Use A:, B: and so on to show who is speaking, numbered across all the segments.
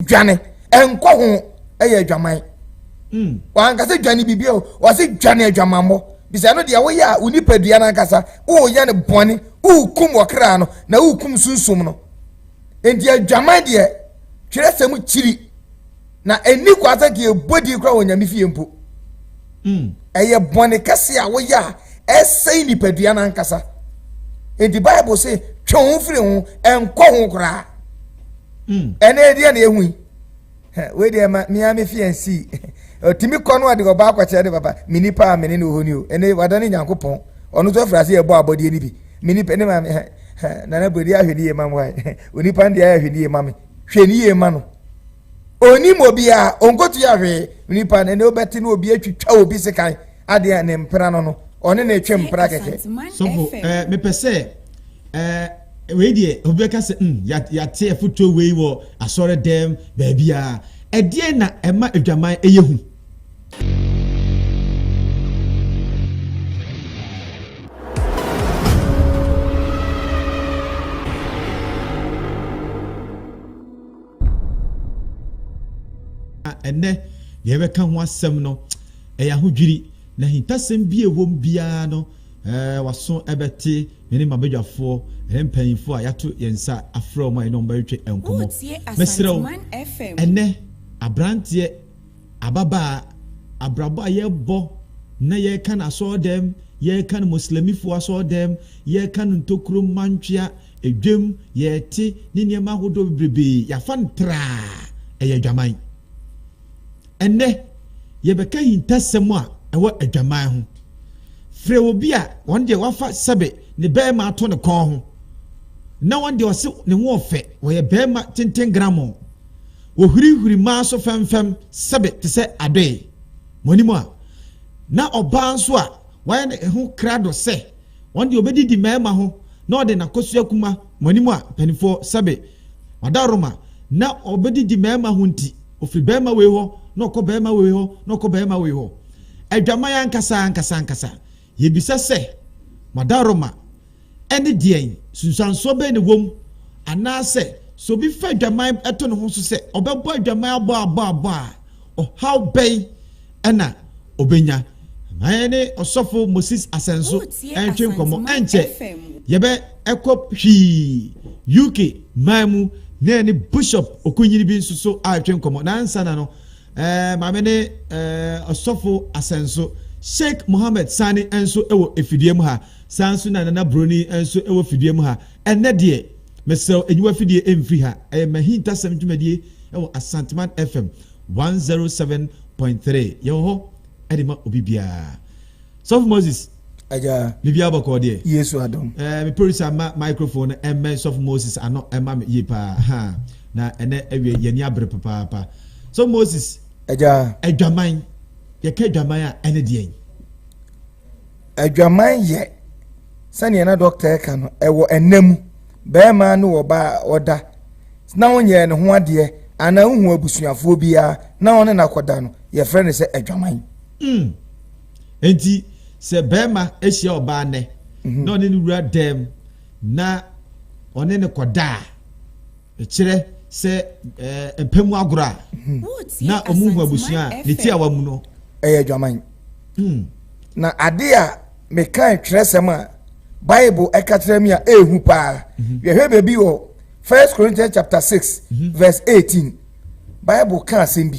A: dwane ɛnkɔ ho ɛyɛ adwaman hmm. wanka sɛ dwane biribi o wɔse dwane adwamammɔ bisɛ no deɛ woyɛ a wo nipadua no ankasa woyɛ no bɔne wokum wɔkra no na wokum sunsum no enti adwaman deɛ twerɛ sɛ mu kyiri na ɛnni kwa sɛ nka yɛbɔ din kora wɔ nyame fie mpo hmm. ɛyɛ bɔne kɛse a woyɛ a ɛsɛe nipadua no ankasa enti bible se twe ho firi ho ɛnkɔ ho koraa Mm. ɛnɛ ɛdeɛ na ɛhu yi wei deɛ ma mea me fi ansii ɔtumi kɔ no ɔde ɔbaa kɔkyerɛ ne papa me nipa a mene ne ɔhɔ ni o ɛnɛ wada ne nyankopɔn ɔno nso afiri ase yɛbɔ abɔdeɛ no bi me nipa ne ma nana bɔdi ahwɛ ne yie ma me wae onipa no deɛ ahwɛ ne yie ma me hwɛ ne yie ma no onim obiara ɔnkɔtu yɛ ahwee nipa no ɛnɛ wobɛte ne obi atwitwa obi sekan Adeɛ a ne mpena no no ɔne na ɛtwa mpena kɛkɛ. Sɔfo ɛɛ eh,
B: mepɛ sɛ ɛɛ eh, wei deɛ obi bɛka sɛ mm yate afotuo wei wɔ asɔre dɛm baabi a ɛdeɛ na ɛma adwaman ɛyɛ hu. Na ɛnnɛ, deɛ yɛbɛka ho asɛm no, ɛyɛ ahodwiri, na ahintasɛm bi a ɛwɔ mu biara no, ɛɛ waso bɛte me ne m'abadwafoɔ ne mpanyinfoɔ a yɛato yɛn nsa afrɛ wɔn a yɛne wɔn bɛtwetwe nkɔmmɔ. Mɛsrɛ wo, ɛnnɛ aberanteɛ Ababaa, abrabɔ a yɛbɔ na yɛkan asɔɔdɛm, yɛkan Muslimifo asɔɔdɛm, yɛkan ntokuro mma ntwea, dwam, yɛte ne nneɛma ahodoɔ bebrebee, yɛafa no traa, ɛyɛ adwaman. Ɛnnɛ, yɛbɛka ahintasɛm a ɛwɔ adwaman ho. Frɛ obi a ɔno deɛ wafa sɛbe ne barima ato ne kɔn ho, na ɔno deɛ ɔse ne ho ɔfɛ, ɔyɛ barima tenten gramoo. Wɔhurihuri maa so fɛmfɛm sɛbe te sɛ adoe. Mo anim a na ɔbaa nso a wayɛ ne ho krado sɛ ɔno deɛ ɔbɛdidi mmarima ho na ɔde n'akosua kuma mo anim a mpanimfoɔ sɛbe ɔdawroma na ɔbɛdidi mmarima ho nti ɔfiri barima wei hɔ na ɔkɔ barima wei hɔ na ɔkɔ barima wei hɔ. Adwaman ankasa ankasa ankasa. Yebisa sɛ, Madaroma ne deɛn? Nsunsuansoɔ bɛn na ɛwɔ mu? Anaasɛ, sɛ obi fa adwaman to ne ho so sɛ ɔbɛbɔ adwaman abɔ abɔ abɔ a, ɔhaw bɛn na ɔbɛnya? Ma yɛne Ɔsɔfo Moses Asenso ntwe nkɔmmɔ. Ɛnkyɛ, yɛbɛkɔ Hwii, UK man mu na yɛne Bishop Okunyini bi nso so atwe nkɔmmɔ. Na ansa na no, Eh, maame ne eh, ɔsɔfo asɛnso Sheikh Mohammed Sani nso wɔ efidie mu ha. Saa nso na Nana Broni nso wɔ fidie mu ha. Ɛnɛ deɛ, mesrɛw enyiwa fidie mfiri ha. Ɛyɛ mahintasɛm dwumadie wɔ Asanteman FM 107.3. Yɛwɔ hɔ de ma obi biara. Sɔfo Moses. Agya. Biribiara
A: bɔkɔɔ deɛ.
B: Yesu adom. Ɛɛ me
A: producer ma
B: microphone no ɛmmɛn sɔfo Moses ano ɛma me yie paa ha na ɛnɛ ɛwie yɛn ani abere papaapa sɔfo Moses. Agya. Adwaman yɛka adwaman a ɛne deɛn. Adwaman
A: yɛ sɛnea na dɔkta ɛka no ɛwɔ ɛnna mu bɛrima ne ɔbaa ɔda na ɔnyɛ ne ho adeɛ anaa ohu abusuafoɔ biara na ɔne no akɔda no yɛfrɛ no sɛ adwaman. Mm.
B: Enti sɛ barima hyia ɔbaa nnɛ mhm. na ɔne no wura dɛm na ɔne no kɔda a, ɛkyerɛ sɛ mpɛ mu agorɔ a mhm. na ɔmu hu abusua a ne tiawa mu no. Ɛyɛ adwaman.
A: Hmm. Na ade a mekan twerɛsɛm a Bible ɛka kyerɛ me a ɛɛhu paa. Mhm. Yɛhwɛ baabi wɔ First Corinthians chapter six verse eighteen. Bible ka asɛm bi.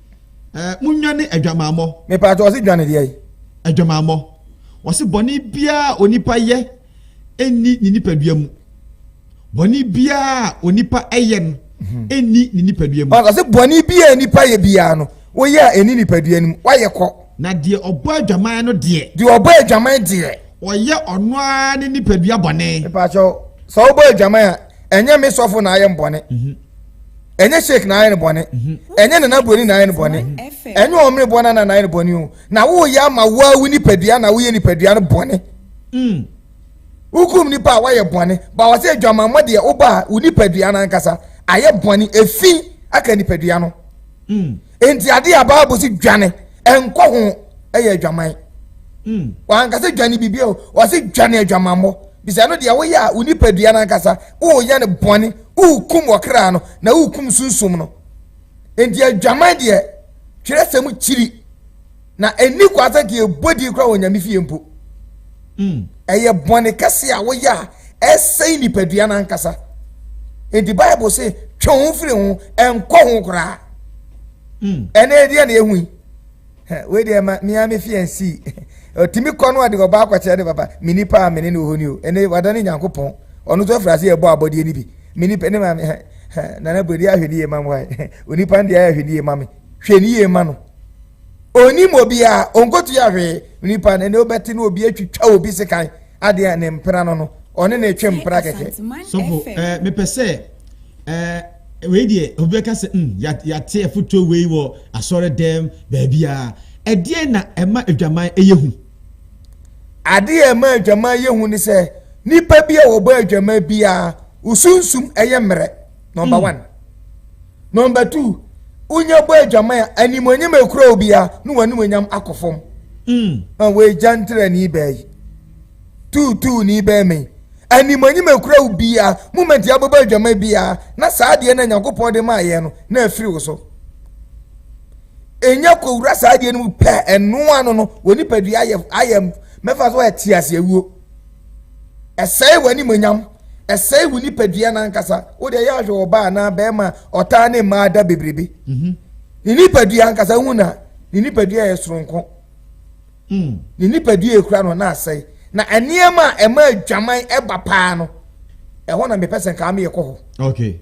B: Ɛɛ munnwane adwamammɔ. Mepatɔ ɔse dwane
A: deɛ. Adwamammɔ.
B: Wɔse bɔne biara onipa yɛ ɛnni ne nipadua mu. Bɔne biara onipa ɛyɛ no ɛnni mhm. ne nipadua mu. Ɔse bɔne biara
A: nipa yɛ biara no woyɛ a ɛnni nipadua no mu wayɛ kɔ. Na deɛ ɔbɔ
B: adwaman no deɛ. Deɛ ɔbɔ adwaman deɛ.
A: Ɔyɛ ɔno
B: ara ne nipadua bɔne. Mepatɔ
A: sɛ wobɔ adwaman a ɛnyɛ me sɔfo na ayɛ mbɔne. Mhm. ɛnyɛ sheik na ayɛ no bɔne mhm. ɛnyɛ nana buroni na ayɛ no bɔne ɛnyɛ ɔmene bɔ na nana ayɛ no bɔne o na woyɛ ama woawu nipadua na woyɛ nipadua no bɔne mm. wokum nipa a woayɛ bɔne ba wɔ sɛ adwamammɔ deɛ woba a wo nipadua no ankasa ayɛ bɔne ɛfi aka nipadua no mm. enti adeɛ a bible sɛ dwane ɛnkɔ ho ɛyɛ adwaman mm. wankasa dwane biribi o wɔse dwane adwamammɔ Bisa no deɛ woyɛ a wo nipadua no ankasa woyɛ no bɔne, wokum ɔkra no na wokum sunsum no. Enti adwaman deɛ twerɛsɛm kyiri na ɛnni kwa sɛ nka yɛbɔ din koraa wɔ Nyame fie mpo. Mm. Ɛyɛ bɔne kɛse a woyɛ a ɛsɛe nipadua no ankasa. Enti Bible se twe ho firi ho, ɛnkɔ ho koraa. Mm. Ɛnɛ ɛdeɛ na ɛhu yi. Wei deɛ ɛma mia me fi ɛnsii. Ɔtumi kɔ no ɔde ɔbaa kɔkyerɛ ne papa me nipa a mene ne ɔhɔ ni o ɛne wada ne nyankopɔn ɔno nso afiri ase yɛbɔ abɔdeɛ no bi me nipa ne maame nana buradi ahwɛ ne yie ma me onipa deɛ ahwɛ ne yie ma me hwɛ ne yie ma no onim obiara ɔnkɔtu yɛ ahwee nipa no ɛne wobɛte no obi atwitwa obi sekan adeɛ ne mpena no no ɔne ne twe mpena kɛkɛ. Sɔfo, eh,
B: mepɛ sɛ eh, wei deɛ obi bɛka sɛ mm yɛate afotuo wei wɔ asɔre dɛm baabiara ɛdeɛ na ɛma adwaman ɛyɛ hu
A: adeɛ a ɛma adwaman yɛ hu ne sɛ nipa bi a wɔbɔ adwaman biara wosunsum ɛyɛ mmerɛ nɔmba mm. one nɔmba two wonya bɔ adwaman a animonyam ekura obiara ne wɔn animonyam akɔ fam mm. na wɔagya ntrani baa yi tuutuuni bɛn me animonyim ekura wo bia moment a wobɛbɔ adwama bia na saa adeɛ no a nyankopɔn de maa yɛn no na afiri wo so ɛnya kɔwura saa adeɛ no mu pɛ ɛno ano no wɔ nipadua ayɛ ayɛ mɛfa so ɛte ase awuo ɛsɛe wɔ animonyam ɛsɛe wo nipadua no ankasa wode ɛyɛ ahwɛ wɔ baa anaa bɛrima ɔtaa ne mmaa da bebrebe mhm. ne nipadua ankasa hu na ne nipadua yɛ soronko Hmm. Ne nipadua kura no na asɛe. Na nneɛma a ɛma adwaman ɛba paa no, ɛhɔ na mepɛ sɛ nkaa meyɛ kɔ hɔ. Okay.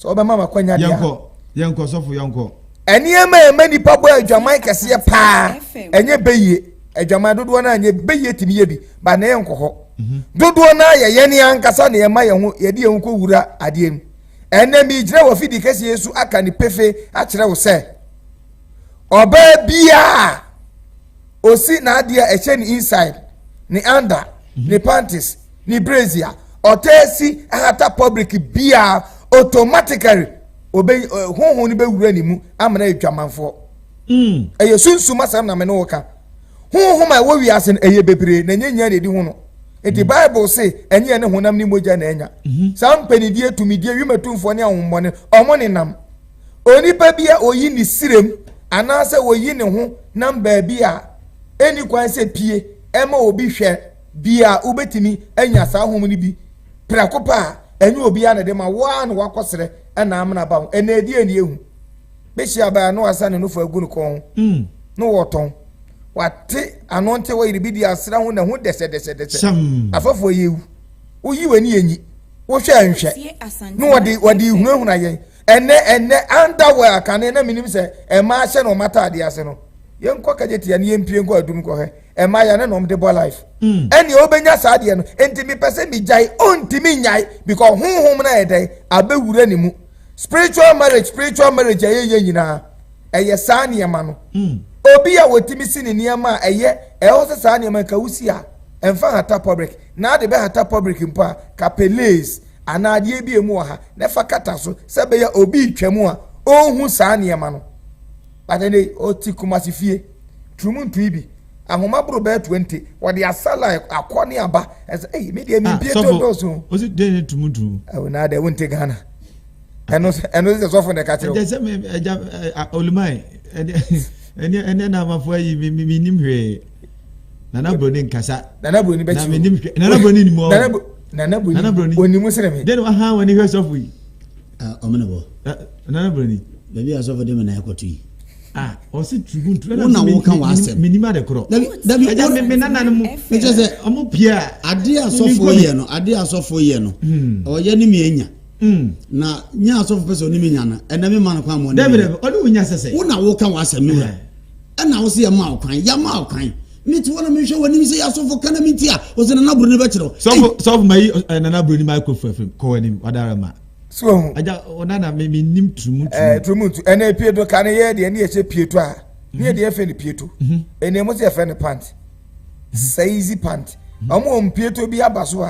A: Sɛ ɔbɛma ma kwanya deɛ. Yɛnkɔ, yɛnkɔ sɔfo
B: yɛnkɔ. Nneɛma a ɛma
A: nipa bɔ adwaman kɛseɛ paa, ɛnyɛ bɛyie. Adwaman dodoɔ no a nyɛ bɛyie tumi yɛ bi, ba na yɛnkɔ hɔ. Mhm. Dodoɔ no a yɛ yɛn ankasa na yɛma yɛn ho yɛde yɛn ho kɔ wura adeɛ mu. Ɛnna mi gyina wɔ fidi kɛseɛ so aka ne pefe akyerɛ wo sɛ. ɔbaa biara ɔsi n'adeɛ a ɛhyɛ ne inside ne under mhm. ne panties ne brazier ɔtaa si ahata public biara automatically obe eh, honhom no bɛwura ne mu amena adwamanfoɔ mm. ɛyɛ sunsum asɛm na me ne wo ka honhom a ɛwɔ wiase no ɛyɛ bebree na ɛnyɛ nyia na ɛdi ho no nti bible se ɛnyɛ ne honam ne mogya na ɛnya mhm. saa mpanidie tumidie wimatumfoɔ ne ahommɔne ɔmo nenam Onipa bi a oyi ne sirem anaasɛ oyi ne ho nam baabi a enni kwan sɛ pie ma obi hwɛ bi a wobetumi anya saa home no bi prɛko pɛ a, ɛnyɛ obiara na de ma wo ara na woakɔsrɛ na amena aba ho. Ɛnna ɛdi ani ehu. Bɛhyia baa na wasa ne nofo agu ne kɔn ho hmm. na wɔtɔn. Wate ano nte wɔyere bi di asra ho na ho dɛsɛdɛsɛdɛsɛ. Afɛfo ɛyɛ ewu. Woyi w'ani enyi. Wohwɛ nhwɛ. Na wɔde wɔde hunahuna yɛn. ɛnɛ ɛnɛ underwear a kane na menim sɛ ɛma ahyɛ na ɔma ataadeɛ ase no yɛnkɔ kagye tia ne yɛmpie nkɔ adum kɔhwɛ ɛma yɛ ne na ɔmde bɔ life mm. ɛne ɔbɛnya saa deɛ no enti mepɛ sɛ megyae ɔntimi nyae because honhom no ɛdɛn abɛwura ne mu spiritual marriage spiritual marriage ɛyɛ yɛ nyinaa ɛyɛ saa nneɛma no mm. obi a wɔtumi si ne nneɛma a ɛyɛ ɛwɔ sɛ saa nneɛma nka wosi a ɛmfa hata public na ade bɛ hata public mpo a kape lace anaa adeɛ bi a emu wɔ ha na fa kata so sɛ ɛbɛyɛ a obi retwam a ɔnhu saa nneɛma no. But ɛnɛ yi, ɔte Kumasi fie, turumu ntui bi, ahoma boro bɛyɛ 20, wɔde asala akɔ ne aba. Ɛsɛ, ei, me deɛ ah, mempie to dɔɔso. Ɔsi dɛn yɛ turumu ntui?
B: Ɛwɔ naa dɛ, wonte
A: Ghana. Ɛno ɛno sɛ sɔfo na ɛka kyerɛ wo. Ɛdɛ sɛ me ɛgya
B: olumae ɛdɛ ɛnɛ ɛnɛ na amafo ayi me me nim hwee. Nana Broni nkasa. Nana Broni bɛ
A: kyi o. Nana Broni
B: ni mu ɔ. Nana Broni
A: Nana Broni oni mu sere mi. Deni wa han wani hwɛ sɔfo
B: yi. Ɔmo na bɔ.
C: Nana Broni.
B: Baabi a sɔfo de mi na
C: ɛkɔ tu yi. Ah, ɔsi
B: tugu ntu. Wo na wo kan w'asɛm.
C: Mi ni ma de korɔ. Dabi
B: dabi ɛja mi mi
C: nana ni mu.
B: N kyɛ sɛ. Ɔmo
C: pie a.
B: Ade a sɔfo
C: yɛ no ade a sɔfo yɛ no. Ɔyɛ ni mi enya. Na nya sɔfo pɛ sɛ ɔni mi nya no ɛnɛ mi ma no kwan ma ɔni mi nya. Dɛbi dɛbi ɔni wo nya sɛsɛ.
B: Wo na wo kan w'asɛm mi
C: wura. Ɛna wo se yɛ ma ɔkwan yɛ ma ɔkwan ne tiwɔ na mehwɛ w'anim sɛ yɛasɔfo ka na me nti a ɔsɛ nana buroni
B: bɛkyerɛw
C: sɔfo sɔfo
B: ma yi eh,
C: nana
B: buroni ma
C: kɔ
B: fa
C: fam
B: kɔ
C: w'anim
B: wadara ma so ɔho
A: agya ɔnana
B: me menim turumu eh, turumu ntu ɛna pie
A: do ka ne yɛ deɛ ne yɛhyɛ pie to a ne yɛ deɛ yɛfɛ ne pie to mhm. ɛna mo sɛ yɛfɛ ne pant saizi pant mhm. ɔmo ɔmo pie to bi aba so a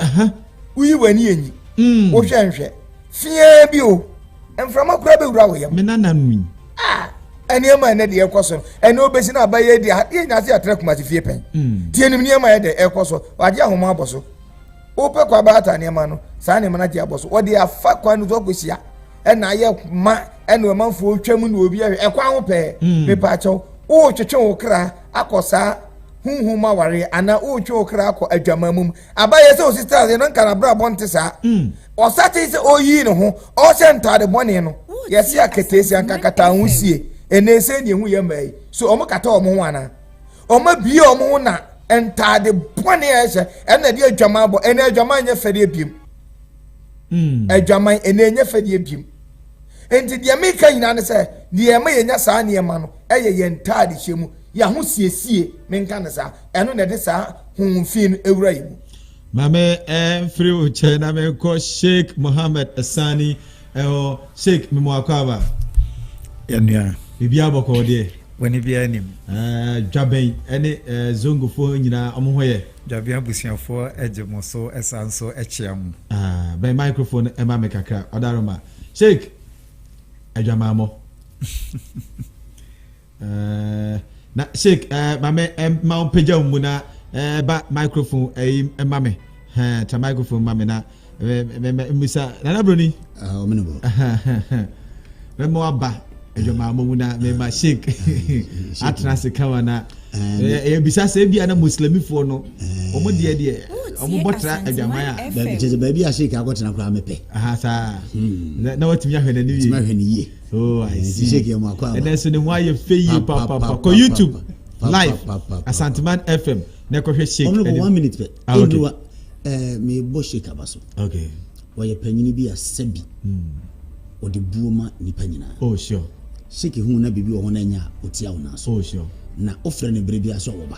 A: woyi w'ani enyi mm. wohwɛ nhwɛ fie bi o mframa kura bɛwura wo yam me nana nwi
B: Ah, nneɛma
A: ɛnɛ deɛ ɛkɔ so no ɛnɛ obesi na aba yɛ di ha yɛ nyase atena kumasi fie pɛn hmm. tie nim nneɛma yɛ dɛ ɛkɔ so wagye ahoma abɔ so wopɛ kɔ aba ata nneɛma no saa nneɛma no agye abɔ so wɔde afa kwan no so akɔhyia ɛna ayɛ ma ɛna ɔmanfoɔ twa mu na obi ɛhwɛ ɛkɔ aho pɛɛ hmm. mepa akyɛw wotwetwe wo kra akɔ saa huhum aware anaa wotwe wo kra akɔ adwamammum Abayɛ sɛ osi style yɛ na nka n'abrabɔ nte saa. Hmm. Ɔsatee sɛ ɔyii ne ho, ɔhyɛ ntaade bɔne no. Yɛse aketeesia nka kata ho sie. Ɛnɛ sɛ ne ɛhu yɛ mmaa yi. So ɔmo kata ɔmo ho anaa? Ɔmo abie ɔmo ho na ntaade bɔne a ɛhyɛ ɛna ɛde adwaman bɔ. Ɛnɛ adwaman nyɛ fɛdeɛ biem. Hmm. Adwaman ɛnɛ nyɛ fɛdeɛ biem. Nti deɛ meka nyinaa ne sɛ deɛ ɛma yɛnya saa nneɛma no ɛyɛ yɛn ntaade hyɛ mu yɛaho siesie menka ne saa Ɛno na ɛde saa honhom fi no awura yɛn mu. Ma me
B: mfiri wo nkyɛn na menkɔ Sheikh Mohammed Sani ɛhɔ. Sheikh, me mo akwaaba. Yɛnua.
D: Biribi abɔkɔɔ
B: deɛ. Bɔne biara nim. Ɛɛ
D: dwabɛn
B: ɛne ɛɛ zongofoɔ nyinaa ɔmo ho yɛ. Dwabɛn abusuafoɔ
D: ɛgye mo so ɛsan nso ɛkyea mo. Aa bɛn
B: microphone ɛma me kakra ɔdaroma. Sheikh, adwamammɔ. Ɛɛ na sheik ɛɛ maame ɛma wɔn pagya wɔn mu na ɛɛ ba microphone ɛyi ɛma mi hɛn ta microphone ma mi na ɛɛ mɛ mɛ mbisa nana broni. ɔmo ne bɔ. mɛ mo aba ɛdwama mo mu na mɛ ma sheik atena ase kama na ɛɛ ebisa sɛ ebi a na muslimifoɔ no wɔn deɛ deɛ wɔn bɔ tra ɛdwaman a. baabi kyerɛ sɛ baabi a
C: sheik akɔtena koraa mepɛ. aha saa
B: na watumi ahwɛ n'ani yie.
C: Oh, I see. T-shirt
B: yɛ mu akɔ aba. Ɛnɛ so
C: ne ho ayɛ fɛ
B: yie Pa, pa, pa, pa, pa, kɔ pa, YouTube pa, pa, pa, live pa, pa, pa, Asanteman FM na kɔhwɛ Sheikh. Honorable, ɛne- one minute pɛ. Ah,
C: okay. Ɛnuwa,
B: ɛɛ, mebɔ
C: Sheikh Aba so. Okay. Ɔyɛ
B: panyin
C: bi a sɛbi ɔde buo ma nipa nyinaa. Oh, sure.
B: Sheikh hu na
C: biribi wɔ hɔ na ɛnyɛ a, ɔtia wo nan so. Oh, sure. Na wofrɛ
B: no bere
C: biara so a wɔba.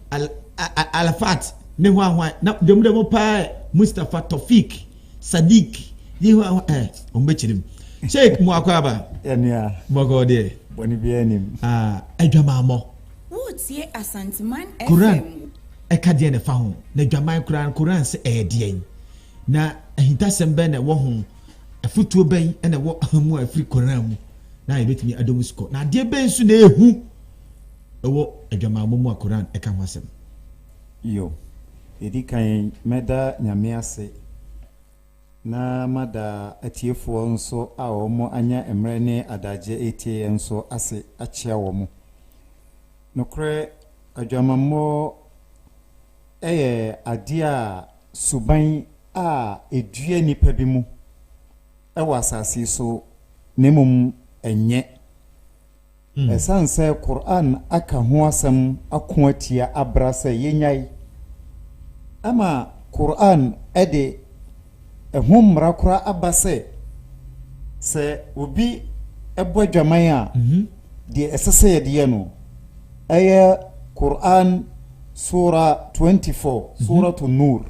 B: Al-Arafat ne hwanhwan? Na dɛm dɛ mo paa ɛ, Mustafa, Tofik, Sadiq nye hwanhwan ɛ? Wɔn bɛ kyerɛ mu. Sheikh mo akɔ aba? Yɛ nua. Bɔkɔɔ
D: deɛ.
B: Bɔne biara nim.
D: Ah, adwamammɔ.
B: Woretie
E: Asanteman FM. Koran
B: ɛka deɛn na ɛfa ho? Na adwaman koraa no, Koran se ɛyɛ deɛn? Na ahintasɛm bɛn na ɛwɔ ho? Afotuo bɛn na ɛwɔ mu a ɛfiri Koran mu na yɛbɛtumi adɔ mu sukɔ? Na adeɛ bɛn nso na ɛyɛ hu? Ɛwɔ adwamammɔ mu a Qur'aan ka ho asɛm. Yo.
D: Ɛdi kan, mɛda Nyame ase na mada atiefoɔ nso a wɔn anya mmerɛ ne adagyeɛ retie yɛn nso ase akyea wɔn. Nokorɛ adwamammɔ yɛ adeɛ a suban a ɛdua nnipa bi mu wɔ asase yi so na mmom ɛnyɛ. Ɛsiane sɛ Qur'aan aka ho asɛm ako atia abra sɛ yɛnnyae, ama Qur'aan de ɛho mmara koraa aba sɛ, sɛ obi bɔ adwaman a, deɛ ɛsɛ sɛ yɛde yɛ no, ɛyɛ Qur'aan Suura 24, Suuratu Nuur.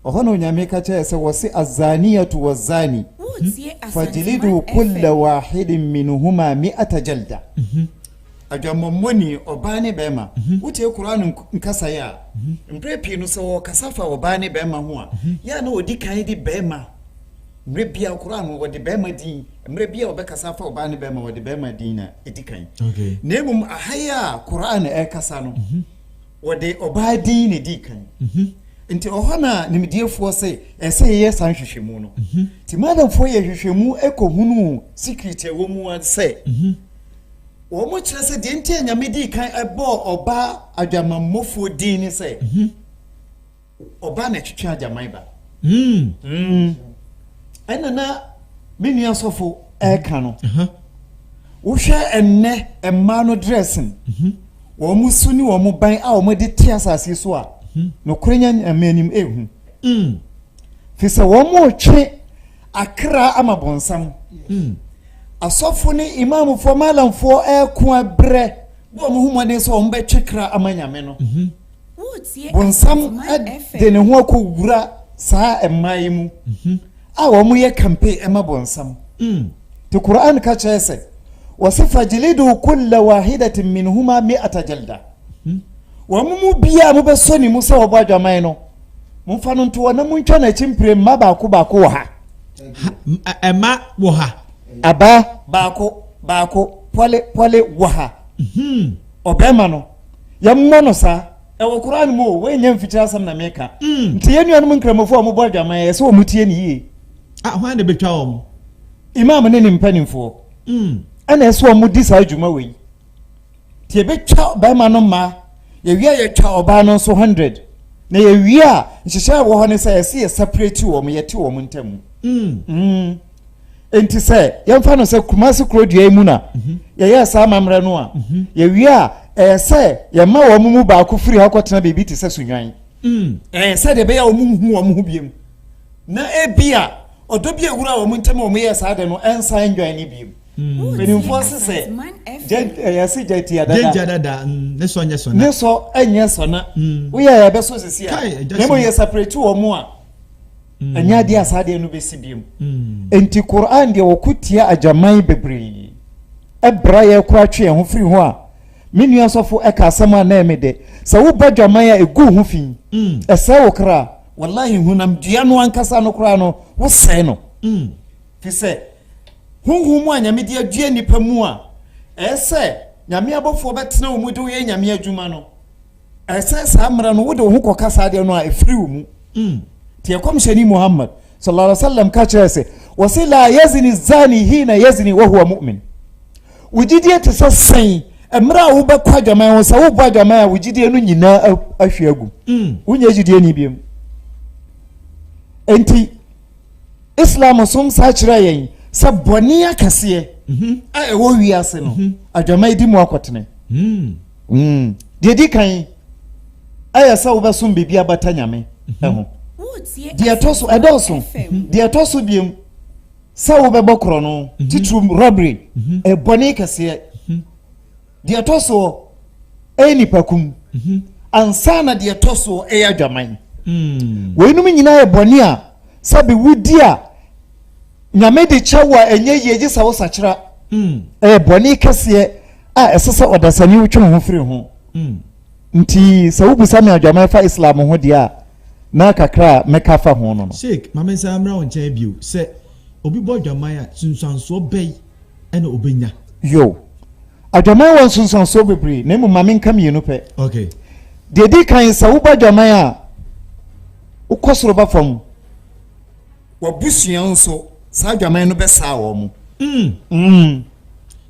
D: Ɔhɔ na Onyame ka kyɛrɛɛ sɛ wɔse Azaniyatu wazani fajilidu kulla wahidin minhuma mi'ata jalda, Adwammɔmmɔni, ɔbaa ne bɛɛma, wotie Qur'aan nkasaeɛ a, mberɛ pii no sɛ wɔɔkasa fa ɔbaa ne bɛɛma ho a, yɛ a na wɔdi kan de bɛɛma, mmerɛ biaa Qur'aan no wɔde bɛɛma din, mmerɛ biaa wɔbɛkasa afa ɔbaa ne bɛɛma wɔde bɛɛma din na ɛdi kan, na mmom
B: aha yi
D: a Qur'aan ɛɛkasa no, Wɔde ɔbaa din na ɛdii kan. Nti ɔhɔ na nimdiefoɔ se ɛsɛ sɛ yɛyɛ saa nhwehwɛmu no. Nti madamfoɔ yɛ nhwehwɛmu kɔhunuu secret a ɛwɔ mu ara sɛ wɔn kyerɛ sɛ deɛ nti a Nyame dii kan bɔɔ ɔbaa adwamanmɔfoɔ din ne sɛ. Ɔbaa na ɛtwetwe agyaman ba. Ɛna na me nua sɔfo ɛka no. Wohwɛ ɛnnɛ mmaa no dressing, wɔn mo su ne wɔn mo ban a wɔn de te asase so a, nokorɛ nya nyame anim ehu. Fi sɛ wɔn mo twe akra ama bonsam. Asɔfo ne imamfoɔ, malamfoɔ ɛko ɛbrɛ bɔ wɔn ho mmɔden sɛ wɔn bɛtwe kra ama nyame no. Bonsam de ne ho akɔwura saa mmaa yi mu mhm. a wɔyɛ kampe ma bonsam. Mm. Te Quran ka kyerɛ sɛ, wɔse fajilidu kulla wahidatin minhuma mi'ata jalda. Mhm. Wɔn mu biara mobɛsɔ ne mu sɛ wɔbɔ adwaman no, momfa no ntoɔ na montwa no akyi mpire mma baako baako wɔ ha.
B: Ɛma wɔ ha. Aba
D: baako baako pɔle pɔle wɔ ha. Mhm. Ɔbɛrima no. Yɛmmɔ no saa. Ɛwɔ Qur'aan mu o, woannya mfikyire asɛm na meka. Mm. Nti yɛn nuanom nkramofo a wɔbɔ adwaman, ɛyɛ sɛ wɔn tie no yie. Ah, hwan na ɛbɛtwa
B: wɔn? Imaam ne
D: ne mpanimfoɔ. Mm. Ɛna ɛsɛ sɛ wɔn di saa dwuma wei. Nti yɛbɛtwa barima no mmaa, yɛwie a yɛtwa ɔbaa no nso hundred. Na yɛwie a, nhyehyɛ a ɛwɔ hɔ ne sɛ ɛsɛ yɛ separate wɔn, yɛte wɔn ntam. Mm. Mm. nti sɛ yɛmfa no sɛ kumase kurodua yi mu na mhm. yɛyɛ saa amammerɛ no a mhm. yɛwie a ɛyɛ sɛ yɛma wɔn mu baako firi hɔ kɔtena biribi te sɛ sunwan mm. ɛyɛ sɛ deɛ ɛbɛyɛ wɔn nhu wɔn ho biem na ebi a ɔdɔ bi ewura wɔn ntɛm wɔn yɛ saa de no ɛnsa ɛndwan ne biem mm. mpanimfoɔ se sɛ ɛyɛ se gya tia dada gya dada mm. ne sɔ nyɛ sɔna
B: ne sɔ ɛnyɛ
D: sɔna woyɛ ɛbɛso sisi a na mo yɛ separate wɔn a ɛnyɛ adeɛ a saa adeɛ no bɛsi biom enti Qur'an deɛ wɔko tia agyaman bebree ɛbra yɛ kora twe yɛn ho firi ho a me nua sɔfo ɛka asɛm a na ɛme dɛ sɛ woba adwaman a ɛgu ho fi ɛsɛe wo kra wallahi honam dua no ankasa no koraa no wosɛe no fi sɛ honhom mu a nyame de adua nnipa mu a ɛyɛ sɛ nyame abɔfoɔ bɛtena wo mu de woyɛ nyame adwuma no Ɛsɛ saa mmerɛ no wode wo ho kɔka saa deɛ no a ɛfiri wo mu. Hmm. Nti ɛkɔmhyɛni Muhammad sallallahu alaihi wasallam ka kyerɛ sɛ wɔse la yazini zani hina yazini wahuwa mu'min. Wo gyidie te sɛ sɛn mmerɛ a wobɛkɔ adwaman ho sɛ wobɔ adwaman a wo gyidie no nyinaa ahwe agu. Hmm. Wonyɛ gyidie ni biom. Nti Islam som saa kyerɛ yɛn sɛ bɔne akɛseɛ mhm. a ɛwɔ wiase no mhm. adwaman di mu akɔtene. Hmm. Mm. Deɛ ɛdi kan, ɛyɛ sɛ wobɛsom biribi abata Nyame mhm. ho. Deɛ ɛtɔ so, ɛdɔɔso. Mhm. Deɛ ɛtɔ so biom, sɛ wobɛbɔ korɔ no, mhm. titiri robbery, ɛbɔne kɛseɛ. Deɛ ɛtɔ soɔ, ɛyɛ nipakum. Ansa na deɛ ɛtɔ soɔ, ɛyɛ adwaman. Mm. Weinom nyinaa yɛ bɔne a sɛ bi wodi a Nyame de kyɛ wo a ɛnyɛ yie gye sɛ wo sakyera. Mm. Ɛyɛ bɔne kɛseɛ a ɛsɛ sɛ ɔdasani wotwe ho firi ho. Mm. Nti sɛ wobisa me adwaman fa Islam ho deɛ a na kakra a mɛka fa ho no no. Sheikh, ma me nsa mmra wo
B: nkyɛn bio. Sɛ obi bɔ adwaman a, sunsuansoɔ bɛn ɛna obɛnya? Yo.
D: Adwaman wɔ nsunsuansoɔ bebree na mmom ma me nka mmienu pɛ. Okay.
B: Deɛ di kan
D: sɛ wobɔ adwaman a wokɔ soro ba fam. w'abusua nso saa adwaman no bɛsaa wɔn. Mm, mm.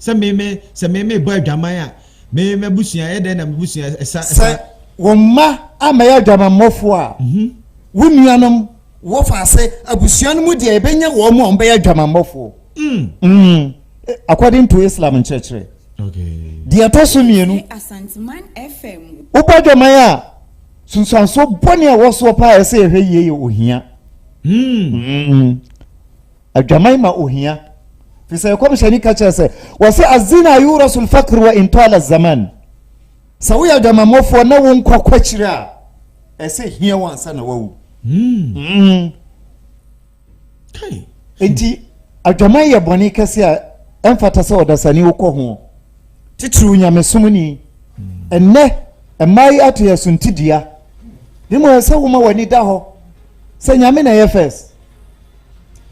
D: Sɛ
B: me me sɛ me me bɔ adwaman a me m'abusua yɛ dɛn na m'abusua ɛsa ɛsa. Sɛ wɔn mma
D: amɛyɛ adwamammɔfo a, mm -hmm. wo nuanom wɔfa ase abusua no mu deɛ ɛbɛnya wɔn a wɔbɛyɛ adwamammɔfo. Mm. Mm. According to Islam nkyerɛkyerɛ. Okay.
B: Deɛ ɛtɔ so mmienu.
E: Wobɔ adwaman a.
D: Sunsuansoɔ bɔne a ɛwɔ soɔ paa a ɛsɛ yɛhwɛ yie yɛ ohia. Hmm. Adwaman ma ohia. Fi sɛ ɛkɔmhyɛni ka kyerɛ sɛ wɔsɛ azina yurasul fakr wa intala zaman. Sɛ woyɛ adwamammɔfoɔ na wo nkwa kwakyire a ɛsɛ hia wo ansa na wawu. Hmm.
B: Hmm. Enti,
D: adwaman yɛ bɔne kɛse a ɛmfata sɛ ɔdasani wo kɔ ho, titiriw nyamesom ni. Ɛnnɛ, mmaa yi ato yɛn so nti dua. Ne mu ɛsɛ sɛ woma w'ani da hɔ sɛ Nyame na ɛyɛ first.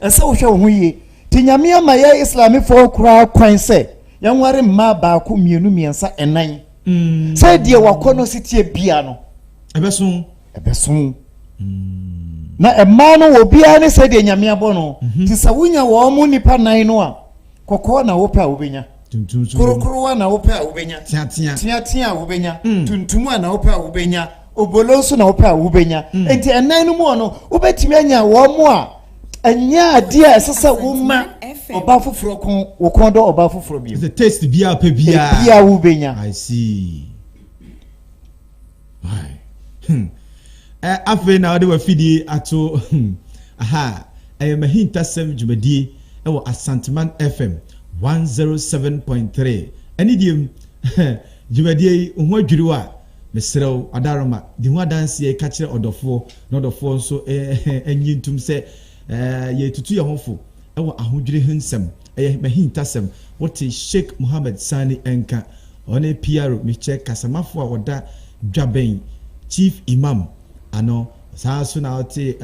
D: Ɛsɛ sɛ wohwɛ wo ho yie. Ti Nyame ama yɛ Islamifɔɔ koraa kwan sɛ yɛnware mmaa baako, mmienu, mmiɛnsa, ɛnan. Mm. Sɛ deɛ wakɔ no seteɛ bia no. Ɛbɛso. ɛbɛso mm. na ɛmaa no wɔ biara ne sɛdeɛ nyame abɔ no mhm. te sɛ wonya wɔn mo nnipa nan no a kɔkɔɔ na wopɛ a wobɛnya korokoro a na wopɛ a wobɛnya teatea a wobɛnya mm. tuntum a na wopɛ a wobɛnya obolo nso na wopɛ a wobɛnya mm. nti ɛnan no mu ɔno wobɛtumi anya wɔn mo a ɛnyɛ adeɛ a ɛsɛ sɛ woma ɔba foforɔ ko wo kɔn dɔ ɔba foforɔ bio. ɛsɛ taste biara pɛ
B: biara. ebiara wo bɛ nya.
D: i see.
B: Hmm. Eh, afei na wɔde wafidie ato hmm. aha ɛyɛ mahintasɛm dwumadie ɛwɔ asanteman fm 107.3 ɛne deɛ mu dwumadie yi ho adwiri wo a mesrɛ wo adaroma di ho adanseɛ ka kyerɛ ɔdɔfoɔ na ɔdɔfoɔ nso ɛnyi ntom sɛ yɛtutu yɛn ho fo ɛwɔ ahodwiri ho nsɛm Ɛyɛ m'ahintasɛm. Wote Sheikh Mohammed Sani nka? Ɔne Piaro Michel kasamafo a ɔda dwa bɛn Chief Imam ano. Saa ara nso na wote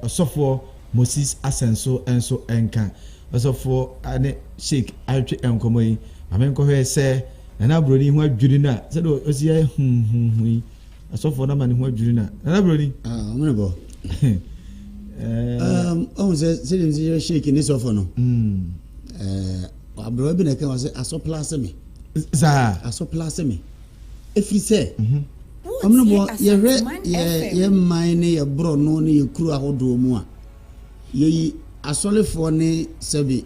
B: Ɔsɔfoɔ Moses Asɛnso nso nka? Ɔsɔfoɔ ne Sheikh atwetwe nkɔmmɔ yi. Ma menkɔhwɛ sɛ Nana Buroni ho adwiri no a, sɛdeɛ ɔsi yɛ huhuhu yi, Asɔfoɔ no ama ne ho adwiri na. Nana Broni. Ah, ɔmo ne bɔ.
C: Um, ɔmo sɛ sɛdeɛ nti yɛ shake ne sɔfo no. Mm. Eh, aberewa bi na ɛka wɔ sɛ asɔpla ase me. Saa.
B: Asɔpla ase me.
C: Efiri sɛ. Mhm. Ɔmo ne bɔ yɛhwɛ yɛ yɛ mman ne yɛ borɔno ne yɛ kuro ahodoɔ mu a yɛyi asɔlefoɔ ne sɛbi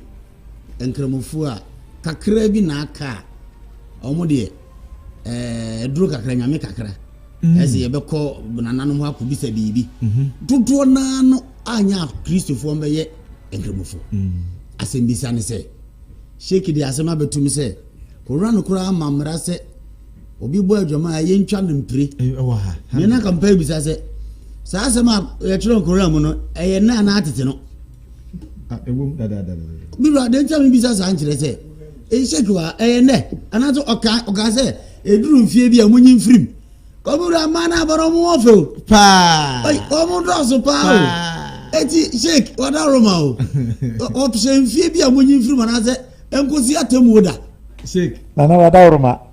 C: Nkramofoɔ a, kakra bi na aka a, wɔn deɛ, ɛɛ, duro kakra, nyame kakra. Mm. Ɛsɛ yɛbɛkɔ nananom hɔ akɔbisa biribi. Mhm. Dodoɔ naa no anyɛ akristofoɔ mbɛyɛ nkramofoɔ. Mm. Asɛmbisa ne sɛ, Sheikh de asɛm abɛtum sɛ, owura no koraa ama mmara sɛ obi bɔ adwama a yɛntwa no mpire. Ɛwɔ ha. Nea na
B: kampa bisa
C: sɛ, saa asɛm a yɛtwerɛ nkora mu no, ɛyɛ nna anaa tete no?
B: me wura de nkyɛn
C: mi bisa saa nkyerɛ sɛ ehyɛ kura ɛyɛ nɛ anaasɛ ɔka ɔka sɛ eduru nfie bi a mo nyi nfirim ɔmo wura mmaa no abɔdɔ ɔmo wɔ fɛ o paa
B: ɔmo dɔɔso
C: paa o eti sheik wada roma o ɔhyɛ nfie bi a mo nyi nfirim anaasɛ nkosi atɛmuo da sheik nana
B: wada roma.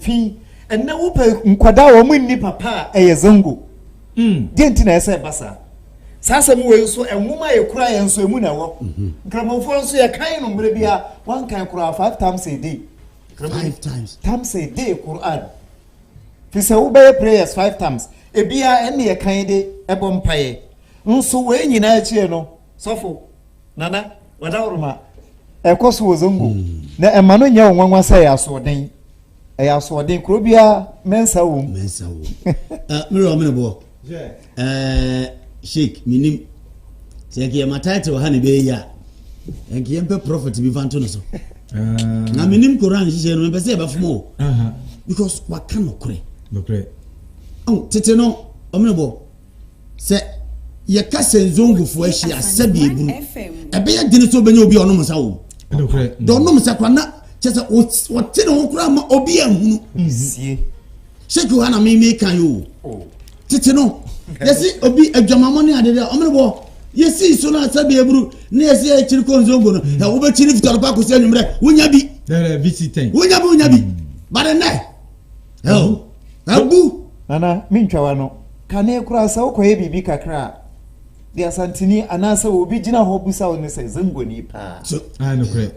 D: Fi ɛnnɛ wopɛ nkwadaa a wɔn nni papa a ɛyɛ zango. Mm. Deɛ nti na ɛsɛ ɛba saa. Saa asɛm wei nso nwoma a yɛkura yɛn nso emu na ɛwɔ. Mhm. Nkramofoɔ nso yɛkan no mmerɛ bi a wɔnkan koraa five times a day. Five
C: times. Times a day
D: Quran. Fi sɛ wobɛyɛ prayers five times. Ebia ɛne yɛkan de ɛbɔ mpaeɛ. Nso wei nyinaa akyire no Sɔfo, Nana, Wadawurma, ɛkɔ so wɔ Zongo, na ɛma no nyɛ wo nwanwa sɛ ɛyɛ asoɔden. Ɛyɛ asoɔden, kuro biara mɛnsa wɔ mu. Mɛnsa wɔ mu. Eh,
C: Mmerɛ ɔmene boɔ. Eh, Sheik, menim. Sɛ ɛkɛ yɛma title ha ne bɛyɛ yi a, ɛnkɛ yɛmpɛ prophet bi fa nto no so. Ah. Na menim Koran nhyehyɛ no, mepɛ sɛ yɛbɛfom o. Because waka nokorɛ. Nokorɛ. Tete no, ɔmene boɔ. Sɛ yɛka sɛ nzongufo ahyia sɛbi ebunu ɛbɛyɛ den sɛ obɛnya obi a ɔnom nsa wɔ mu dɛ ɔnom nsa kora na kyɛ sɛ ɔte ne ho koraa ma obi ahunu
D: sɛ kiwa
C: na meme ka yo tete no yɛsi obi adwamamɔ ne ade dɛ ɔmene bɔ yɛsii so no asɛ bi aburu ne yɛsi akyiri kɔ nzongo no ɛ wobɛkyi ne fitɔrɔpa akɔsi anwummerɛ wonya bi
B: wonya bi wonya bi
C: bare nɛ Ɛw, abu! Nana, me ntwa wa
D: no. Kane koraa sɛ wokɔyɛ biribi kakra a, de Asanteni anaasɛ obi gyina hɔ bisa wo ne sɛ, Zangoni paa? So, ae nokorɛ.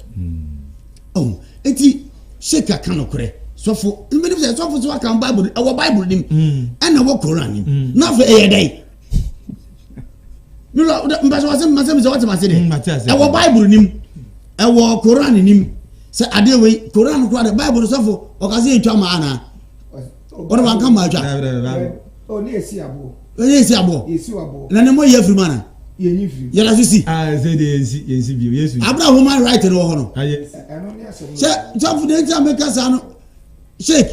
B: Oh, enti
C: Sheik aka nokorɛ. Sɔfo, menim sɛ sɔfo so aka Bible, ɛwɔ Bible nim, ɛna ɛwɔ Koran nim. Na afei ɛyɛ dɛn? nura mpɛsɛ wɔsɛ mpɛsɛ mi sɛ wɔte ma se de ɛwɔ baibulu nim ɛwɔ koran nim sɛ adeɛ wei koran kura de baibulu sɔfo ɔkase etwa ma ana ɔno wanka ma atwa ɔne esi aboɔ
A: ɔne esi aboɔ esi
C: aboɔ na ne mo yɛ firi mu ana yɛnyi firi mu yɛla
A: so si aa ah, ɛsɛ
C: de yɛnsi
B: yɛnsi bio yesu abira human right no wɔ
C: hɔ no ah,
B: sɛ
A: sɔfo de nti
C: a meka saa no Sheikh,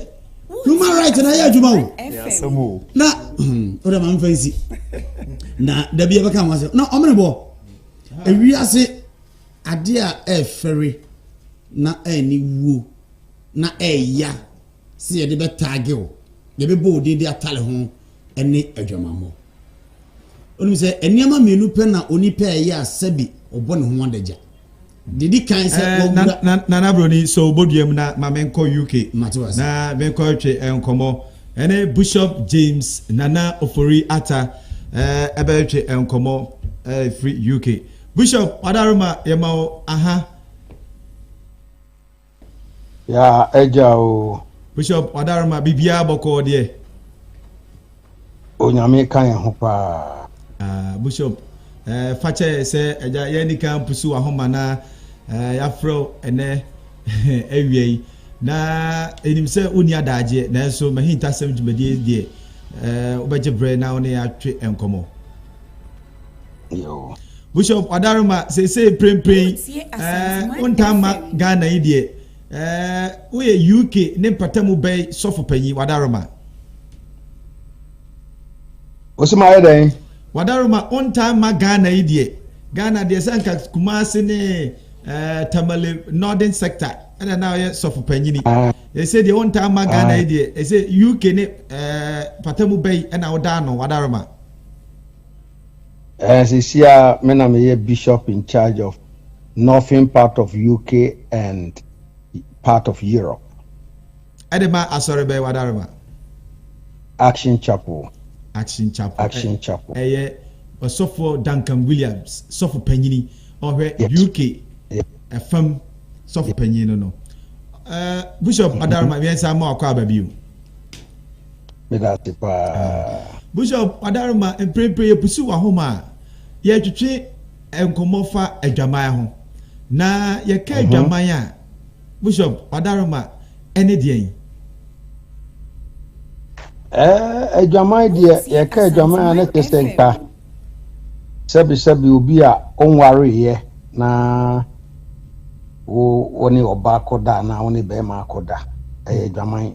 C: human rights na yɛ adwuma o. Yɛ asɛm o. Na
D: hmm,
C: o de ma nfa nsi. Na dabi yɛ bɛka ho asɛm. Na ɔmo ne bɔ. Ewi ase ade a ɛfɛre na ɛni wuo na ɛya sɛ yɛde bɛ taage o. Yɛ bɛ bɔ odin de atale ho ɛne adwamamɔ. Onim sɛ nneɛma mmienu pɛ na onipa ɛyɛ a sɛbi ɔbɔ ne ho adagya. Didi kan sɛ eh, na, na, na, na broni
B: so boduam na ma menkɔ UK na menkɔ
C: twe
B: eh, nkɔmmɔ ɛne Bishop James Nana Ofori Ata eh, ɛbɛtwe eh, nkɔmmɔ eh, firi UK Bishop wadaroma yɛma wo aha
F: Yaa agya oo. Bishop Wadaroma
B: biribiara bɔkɔɔ deɛ.
F: Onyame ka yɛn ho paa. Ah, Bishop
B: eh, fa kyɛ sɛ agya yɛn nika mpusu wahoma na eh, yɛafrɛ wo ɛnɛ awia yi na ɛnim sɛ wonni adaagyeɛ nanso mahintasɛm dwumadie deɛ eh, wobɛgye berɛ na wo ne yɛatwe nkɔmmɔ. Yo.
F: Bishop Adaruma
B: seesei prempren ɛɛ wontaa ma Ghana yi deɛ ɛɛ woyɛ UK ne mpatamu bɛn sɔfo panyin Wadaruma.
F: Wosi ma ayɛ dɛn? Wadaruma
B: wontaa ma Ghana yi deɛ Ghana deɛ sɛ nka Kumasi ne ɛɛ Tamale Northern sector ɛna na ɔyɛ sɔfo panyini. Ɛsɛ deɛ wontaa ma Ghana yi deɛ ɛsɛ UK ne ɛɛ patamu bɛyi ɛna wodaa no Wadaruma. Eh,
F: sisi a me na meyɛ bishop in charge of northern part of UK and part of Europe. Ɛde
B: ma asɔre bɛyɛ wadarema.
F: Action Chapel. Action Chapel.
B: Action eh, Chapel. Ɛyɛ
F: eh, ɔsɔfo
B: Duncan Williams, sɔfo panyini, ɔhwɛ yes. UK ɛfam eh, sɔfo yes. panyini no no. Uh, Bishop Adarma, mm-hmm. mmiɛnsa ma ɔkɔ aba bio.
F: Meda ase paa. Bishop
B: Adaruma mprempren yɛpusuw w'ahoma a, yɛretwetwe nkɔmmɔ fa adwaman ho. Na yɛka adwaman a, Bishop Adaruma, ɛne deɛn?
F: Eh, adwaman deɛ, yɛka adwaman a na kyerɛ sɛ nka sɛbesɛbe obi a ɔnwareeɛ na wo ne ɔba akɔda anaa wo ne bɛrima akɔda, ɛyɛ adwaman.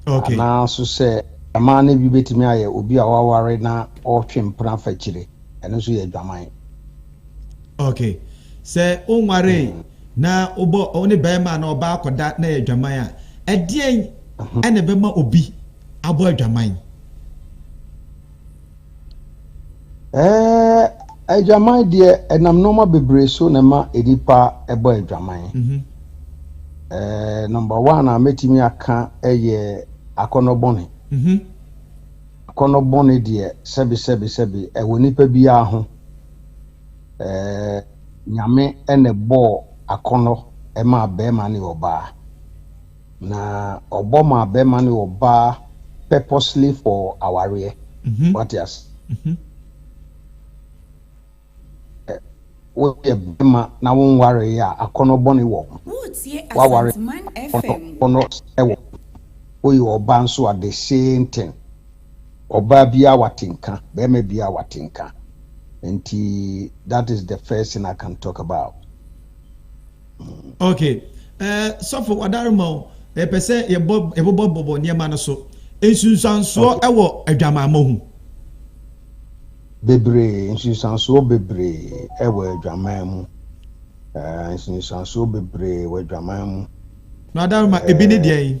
B: Okay. Anaa so sɛ
F: ɛmaa no bi betumi ayɛ obi a waware na ɔretwe mpena fa kyire. Ɛno nso yɛ adwaman.
B: Okay. Sɛ onwaree mm. na wobɔ wo ne bɛrima na ɔbaa akɔda na yɛ adwaman a, ɛdeɛn ɛna ɛbɛma obi abɔ adwaman?
F: Adwaman deɛ ɛnam nnoɔma bebree so na ɛma nnipa bɔ adwaman. Mhm. Ɛɛ nɔmba wan a mɛtumi aka yɛ akɔnɔ bɔne. Mhm. Akɔnɔ bɔne deɛ sɛbi sɛbi sɛbi ɛwɔ nipa biara ho. Ɛɛ nyame ɛna ɛbɔɔ akɔnɔ ɛmaa bɛrima ne ɔbaa. Na ɔbɔ maa bɛma ne ɔbaa purposely for awareɛ. Mhm. Wate ase? Mhm. Ɛ, Woyɛ bɛma na wonwareeɛ a, akɔnɔ bɔne wɔ ho. Woretie Woaware Asanteman FM. akɔnɔ sɛ wɔ ho. Woyɛ ɔbaa nso a, the same thing. Ɔbaa biara wate nka, bɛrima biara wate nka. Nti, that is the first thing I can talk about.
B: Okay. Ɛɛ eh, sɔfo wadarema o. Ɛpɛ sɛ yɛbɔ yɛbobɔbobɔ nneɛma no so. Nsunsuansoɔ okay. wɔ adwamammɔ ho.
F: Bebree nsunsuansoɔ bebree wɔ adwaman mu. Ɛɛ nsunsuansoɔ bebree wɔ adwaman mu. Na adarema
B: ebi ne deɛ yi.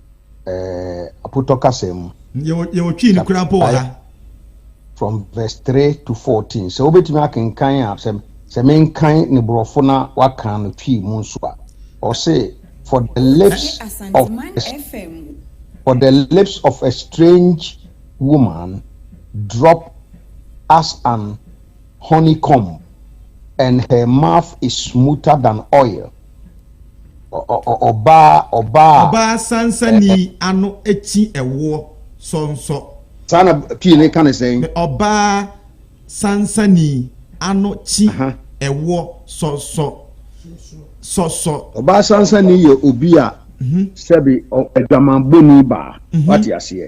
F: eh, Apotɔ kasa mu. Yɛwɔ Twi
B: no koraa mpo wɔ ha. From
F: verse three to fourteen. Sɛ wobɛtumi akenkan a, sɛ sɛ menkan ne borɔfo na wakan no Twi mu nso a, ɔse for the lips of for the lips of a strange woman drop as an honeycomb and her mouth is smoother than oil. Ɔbaa ɔbaa. Ɔbaa sansani
B: ano kyi ɛwoɔ sɔnsɔ. Saa na
F: pie no ka no sɛn? Ɔbaa
B: sansani ano kyi ɛwoɔ sɔsɔ sɔsɔ.
F: Ɔbaa sansani yɛ obi a sɛbi adwamanbɔni baa. Wate aseɛ?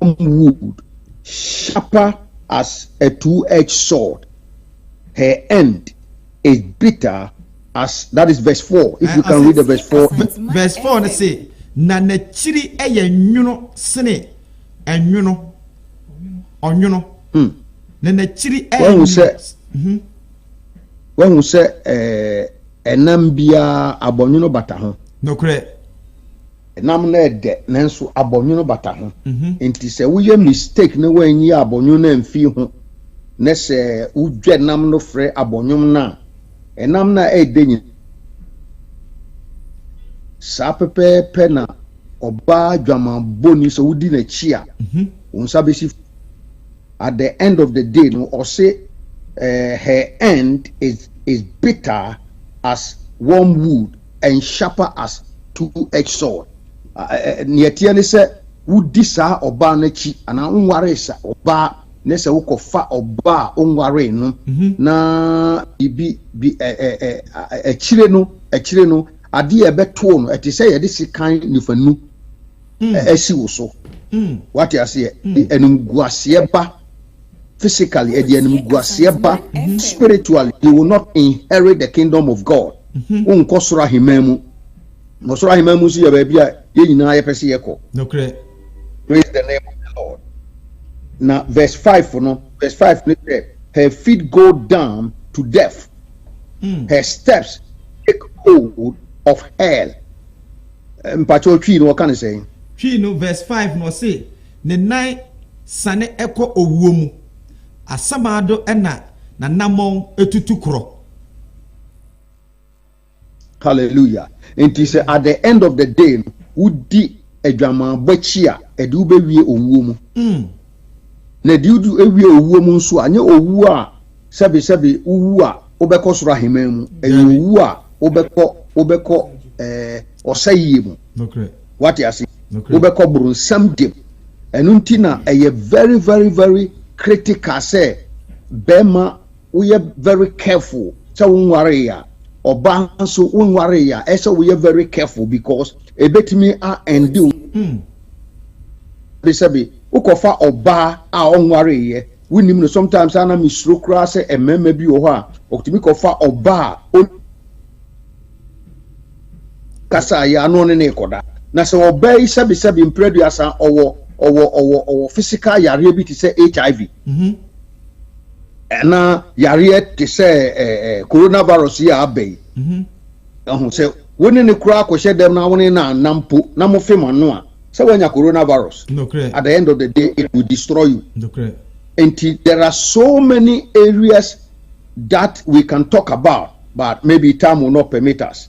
F: wood, sharper as a two edged sword. Her end is bitter as that is verse 4. If you can read the verse 4. Verse 4 no say,
B: na n'akyiri yɛ nwono sene ɛnwono, ɔnwono. Hmm. Na n'akyiri yɛ
F: nwono. Mhm. Wahu sɛ ɛnam biara abɔnwono bata ho. Nokorɛ.
B: Nam
F: no yɛ dɛ nanso abɔnwono bata ho nti sɛ woyɛ mistake na woanyi abɔnwono no amfii ho na sɛ wodwa nam no frɛ abɔnwom no a, nam no a ɛyɛ dɛ nyinaa saa pɛpɛɛpɛ na ɔbaa dwamanbɔni sɛ wodi n'akyi a, wo nsa bɛsi At the end of the day no ɔse eh her end is is bitter as wormwood and sharper as two edged sword eh nea ɛteɛ ne sɛ wodi saa ɔbaa no akyi anaa wonwaree sa ɔbaa ne sɛ wokɔ fa ɔbaa a wonwaree no na biribi bi eh eh eh akyire no akyire no adeɛ a ɛbɛtoo no ɛte sɛ yɛde sekan nifanu asi wo so wate aseɛ animguaseɛ ba physically ɛde animguaseɛ ba spiritually you will not inherit the kingdom of God wonkɔ soro ahemman mu na ɔsoro ahemman mu nso yɛ baabi a yɛn nyinaa yɛpɛ sɛ yɛkɔ praise
B: the name
F: of the Lord na verse 5 no verse 5 no sɛ her feet go down to death her steps take hold of hell Mpakyɛw Twi no wɔka no sɛn? Twi no verse
B: five no ɔse ne nan sane kɔ owuo mu, asamaado na nanamɔn tutu korɔ.
F: Hallelujah Enti sɛ at the end of the day no wodi adwamanbɔ akyi a ɛde wobɛwie owuo mu. Mm. Na deɛ ɔdi wie owuo mu nso a, nyɛ owuo a sɛbesɛbe wowu a wobɛkɔ soro ahemman mu. Ɛyɛ owuo a wobɛkɔ wobɛkɔ ɛɛ ɔsɛeɛ mu. Wate ase? Wobɛkɔ boronsam gye mu. Ɛno nti na ɛyɛ very very very critical sɛ bɛrima woyɛ very careful sɛ wonwaree a ɔbaa nso wonwaree a ɛsɛ woyɛ very careful because ebetumi a ɛnde wo hmm. sɛbesɛbe wokɔfa ɔbaa a ɔnwareeɛ wonim no sometimes ana mesuro koraa sɛ mmarima bi wɔ hɔ a ɔtumi kɔfa ɔbaa a kasa yɛ ano ne ne kɔda na sɛ ɔbaa yi sɛbesɛbe mprɛduasa ɔwɔ ɔwɔ ɔwɔ ɔwɔ physical yareɛ bi te sɛ hiv mm-hmm. na yareɛ te sɛ coronavirus yi a aba yi ɛho sɛ wo ne ne koraa kɔhyɛ dɛm na wo ne na anam mpo na mo fem ano a sɛ wanya coronavirus at the end of the day it will destroy you nti there are so many areas that we can talk about but maybe time will not permit us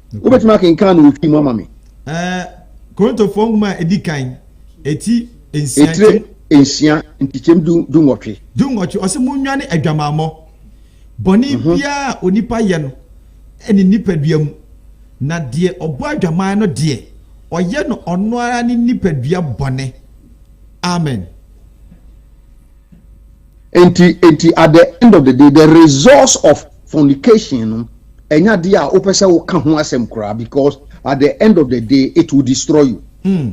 F: Wobɛtumi akenkan no ofii mu ama me? Ɛɛ,
B: Korintofoɔ nwoma a ɛdi kan, ɛti nsia. Etire
F: nsia, nkyekyɛm du du nwɔtwe. Du nwɔtwe, ɔse
B: monnwane adwamammɔ. Bɔne mhm. biara a onipa yɛ no ɛne nipadua mu, na deɛ ɔbɔ adwaman no deɛ, ɔyɛ no ɔno ara ne nipadua bɔne. Amen.
F: Enti enti at the end of the day the results of fornication no ɛnyɛ adeɛ a wopɛ sɛ woka ho asɛm koraa because at the end of the day it will destroy you. Hmm.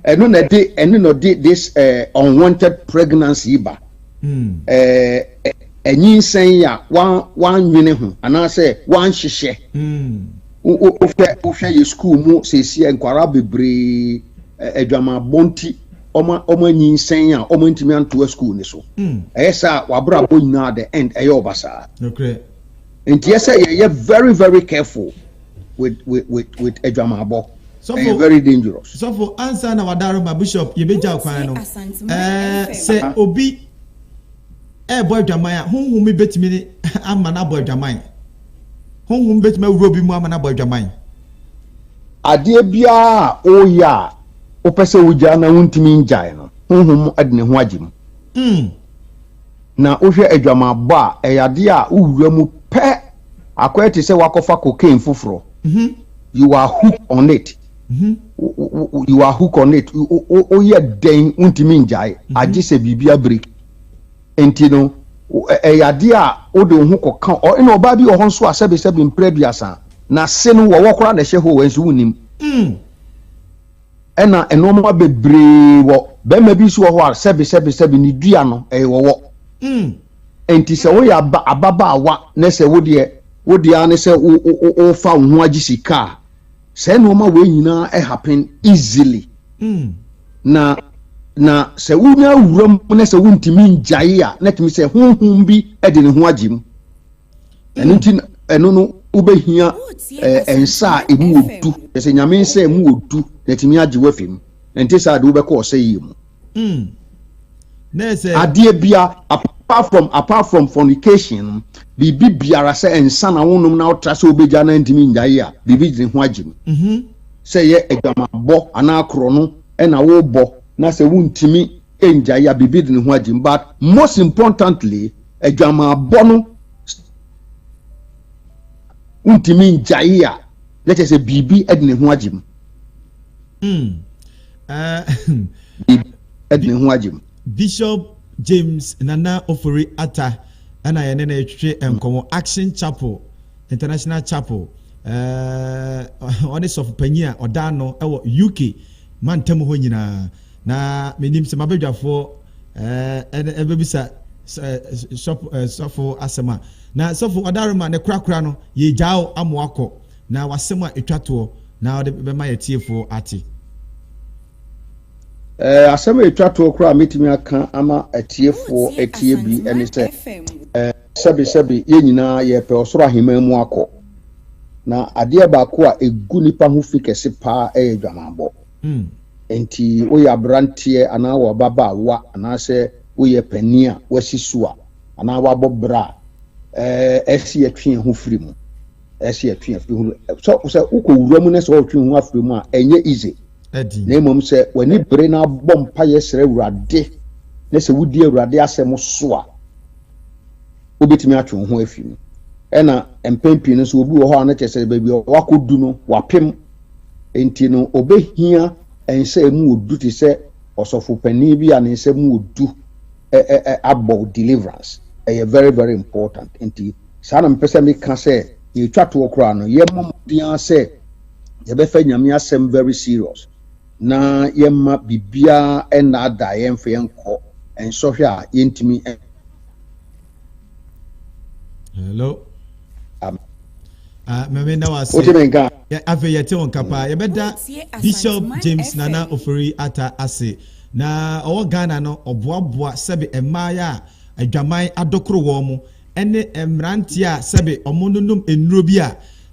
F: Ɛno na ɛde ɛne na ɔde this eh, unwanted pregnancy yi ba. Hmm. Eh, anyinsɛn a wanwene ho anaasɛ wanhyehyɛ. Hmm. Wohwɛ wohwɛ yɛ school mu seesie nkwaraa bebree adwamammɔ nti. ɔma ɔma nyinsɛn a ɔma ntumi antoa sukuu ne so hmm. ɛyɛ sɛ a wabrabɔ nyinaa the end ɛyɛ ɔbasaa
B: nti yɛ sɛ
F: yɛyɛ very very careful with with with with adwamabɔ ɛyɛ very dangerous. sɔfo ansa na
B: wadaro ma bishop yɛbɛgya kwan no ɛɛ sɛ obi ɛɛbɔ adwaman a honhom mi bɛtumi ne ama no abɔ adwaman honhom bɛtumi awura obi mu ama no abɔ adwaman.
F: adeɛ biara a ɔreyɛ a wopɛ sɛ wogyaa na wuntumi ngyae no, honhom de ne ho agye mu. Na wohwɛ adwamammɔ a, ɛyɛ ade a wowura mu pɛ, akɔyɛ te sɛ woakɔfa cocaine foforo. You are hook on it. You are hook on it. Woyɛ dɛn wuntumi ngyae, agye sɛ biribi abreak. Enti no, ɛyɛ ade a wode wo ho kɔka. Ɛna ɔbaa bi wɔ hɔ nso a, sɛbesɛbe mpere aduasa, n'ase no wɔwɔ koraa na ɛhyɛ hɔ o, ɛnso wunnim. ɛna nnoɔma bebree wɔ bɛrima bi nso wɔ hɔ a sɛbi sɛbi sɛbi ne dua no ɛyɛ wɔwɔ mm. nti sɛ woyɛ aba ababaawa na sɛ wodeɛ wodeɛ ara ne sɛ wo wo wofa wo ho agye sika a sɛ nnoɔma wei nyinaa ɛhapen easily mm. na na sɛ wonya awura mu na sɛ wontumi ngyae a na tumi sɛ honhom bi de ne ho agye mu Ɛno nti, ɛno no, wobɛhia eh, nsa a ɛmu wɔ du. Ɛsɛ nyame nsa a ɛmu wɔ du na ɛtumi agye wafi mu. Ɛnte saa de wobɛkɔ ɔsɛ yie mu. Hmm. Adeɛ bia apart from apart from fornication biribi biara sɛ nsa na wonom na wotra sɛ wobɛgya na ntumi ngyae a biribi gyene ho agye mu mhm. sɛ yɛ adwamabɔ anaa korɔ no ɛna wobɔ na sɛ wontumi ngyae a biribi de ne ho agye mu but most importantly Adwamammɔ no wontumi ngyae a, na kyerɛ sɛ biribi de ne ho agye mu. Hmm. Uh, de ne ho agye mu. Bishop
B: James Nana Ofori Atta ɛna yɛne no retwetwe nkɔmmɔ Action Chapel International Chapel uh, ɔne sɔfo panyin a ɔda ano wɔ UK mantam hɔ nyinaa na menim sɛ mabadwafoɔ ɛɛ ɛbɛbisa sɔfo sɔfo asɛm a na sɔfo ɔdarima ne korakora no yɛ gyaa o ama wakɔ na wasɛm a etwa toɔ na ɔde bɛma yɛ tiefo ate.
F: Ɛɛ asɛm a etwa toɔ koraa mɛtumi aka ama atiefoɔ atie bi ɛne sɛ ɛɛ sɛbi sɛbi yɛn nyinaa yɛpɛ ɔsoro aheman mu akɔ na adeɛ baako a egu nipa ho fi kɛse paa ɛyɛ dwamaabɔ. mm. Enti woyɛ aberanteɛ anaa wo ababaawa anaasɛ woyɛ panin a woasi so a anaa woabɔ bra a, ɛɛ ɛsi yɛtwe yɛn ho firi mu. Ɛsi yɛtwe yɛn firi mu. Sɛ sɛ wokɔ wura mu na sɛ wɔretwe ho afiri mu a, ɛnyɛ easy. Na mmom sɛ w'ani bere na abɔ mpaeɛ srɛ Awurade na sɛ wodi Awurade asɛm so a, wobɛtumi atwe wo ho afiri mu. Ɛna mpɛn pii no nso obi wɔ hɔ a na kyerɛ sɛ baabi a wakɔdu no wapem Enti no, obehia nsa a emu wɔ du te sɛ ɔsɔfo panyin bi a ne nsa mu wɔ du abɔ deliverance. Ɛyɛ very very important. Enti saa na mepɛ sɛ meka sɛ yɛretwa toɔ koraa no, yɛmmɔ mmɔden ara sɛ yɛbɛfa Nyame asɛm very serious na yɛmma biribiara nnaadaa yɛn mfa yɛn nkɔ nsɔhwɛ a yɛntumi
B: hello ah, mɛmɛ da wase afei yɛte wo nka paa yɛbɛda bishop james nana ofori ata ase na ɔwɔ ghana no ɔboaboa sɛbe mmaayɛ a adwaman adokoro wɔn mo ɛne mmeranteɛ a sɛbe ɔmo nonom nnuro bi a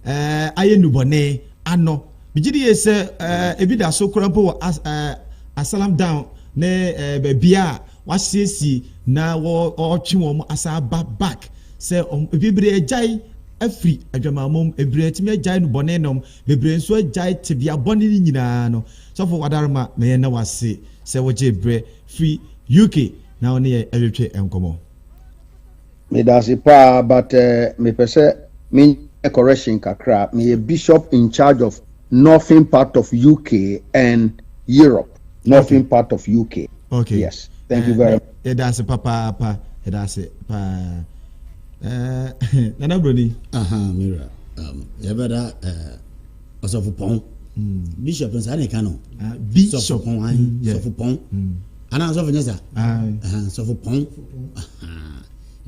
B: ɛɛ ayɛ nubɔne ano bigye de yɛ sɛ ɛɛ ebi da so kora mpo wɔ as ɛɛ asalam down ne ɛɛ baabi a Wɔasiesie na wɔretwe wɔn asan aba back sɛ wɔn bebree agyae afiri adwamammɔ mu, bebree atumi agyae nnubɔne nom, bebree nso agyae tebea bɔne no nyinaa no. Sɔfo Wadarma, na yɛn na wase sɛ wogyee berɛ firi UK na wo ne yɛn retwetwe nkɔmmɔ.
F: Medase paa but eh mepɛ sɛ menyɛ correction kakra meyɛ bishop in charge of northern part of UK and Europe northern okay. part of UK okay. yes
B: thank uh, you eh, very
F: much yɛdase papaapa
B: yɛdase paa uh, nana broni aha mira
C: um, yɛbɛda uh, ɔsɔfopɔn bishop no saa na ɛka no sɔfopɔn
B: an sɔfopɔn
C: anaa sɔfo nyɛ saa sɔfopɔn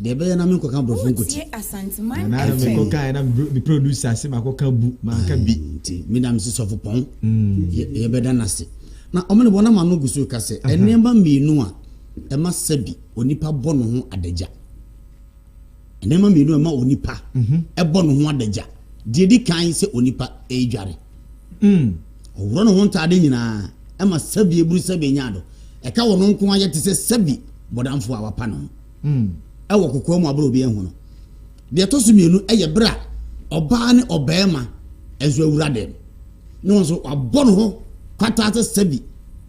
C: deɛ ɛbɛyɛ na menkɔka borɔfo nkɔti nti
B: meda me se
C: sɔfopɔn yɛbɛda no ase na ɔmo ne bɔnama no gu so ka sɛ ɛnneɛma mmienu a ɛma sɛ bi onipa bɔ ne ho adagya Nneɛma mmienu a ɛma onipa mhm. bɔ ne ho adagya. Deɛ edi kan sɛ onipa redware. Mm. Ɔworɔ ne ho ntaade nyinaa ɛma sɛbi eburu sɛbi enya do. Ɛka wɔn nko ayɛ te sɛ sɛbi bɔdamfo a wapa ne ho. Mm. Ɛwɔ kokoa mu abere obi ɛho no. Deɛ ɛtɔ so mmienu ɛyɛ bere a ɔbaa ne ɔbɛrima nso awura dɛm. Ne wɔn nso wabɔ ne ho kwataa sɛ sɛbi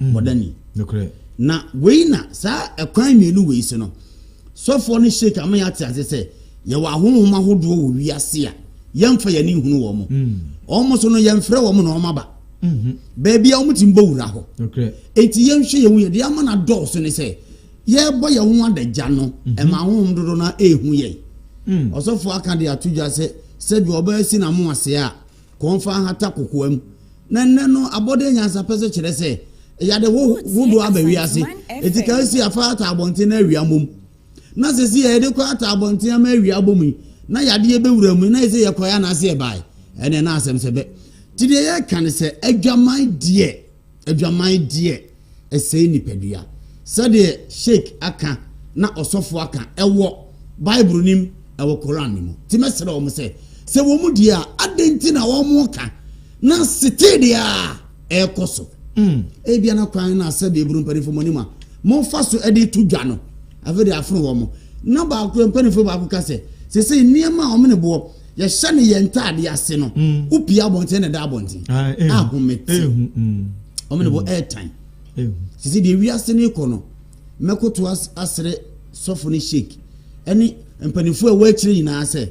C: mm. bɔdani. Na wei na saa ɛkwan mmienu wei si no. Sɔfoɔ no sheik ama yɛate ase sɛ yɛwɔ ahonhom ahodoɔ wɔ wiase a yɛmfa yɛn ani nhunu wɔn. Wɔn mm. so no yɛmfrɛ wɔn na wɔn aba. Mm-hmm. Baabi a wɔn ti mbɔ wura hɔ. Enti yɛnhwɛ yɛn ho yɛde ama no adɔɔso ne sɛ yɛrebɔ yɛn ho adagya no mm-hmm. ɛma ahonhom dodo no ɛrehu yɛn. Mm. Ɔsɔfoɔ aka de ato dwa sɛ sɛbi ɔbɛyɛ si na mo ase a kɔmfa ahata kokoam. Na nnɛ no abɔde nyansapɛ so kyerɛ sɛ yade hodoɔ aba wiase. Eti ka si afa ata abɔnten na awia mmom. Na sɛ si yɛde kɔ ata abɔnten ama awia abɔ mu yi, na yadeɛ bɛwura mu, na ɛsɛ yɛkɔɛ anaasɛ yɛbae. Ɛnɛ na asɛm sɛ bɛ. Nti deɛ yɛka ne sɛ adwaman deɛ. adwaman deɛ ɛsɛe nipadua. Sɛdeɛ Sheikh aka na ɔsɔfo aka ɛwɔ Bible nim ɛwɔ Koran ne mu. Ti mɛsrɛ wɔn sɛ sɛ wɔn deɛ a adɛn nti na wɔn ka na setee deɛ a ɛrekɔ so. Mm. Ebia na kwan na sɛdeɛ eburu mpanimfoɔ mo anim a momfa so ɛde to dwa no afei de afono wɔn. Na baako mpanimfoɔ baako ka sɛ sɛ sɛ nneɛma a wɔn ne boɔ yɛhyɛ no yɛn ntaade ase no mm. wopia abɔnten na da abɔnten ah, eh, ahomete eh, hmm, hmm. ɔmo ne bɔ eh, airtime hmm. sisi deɛ wiase no kɔ no mɛkoto asere sɔfo ne sheik ɛne mpanimfoɔ a wɔakyerɛ nyinaa sɛ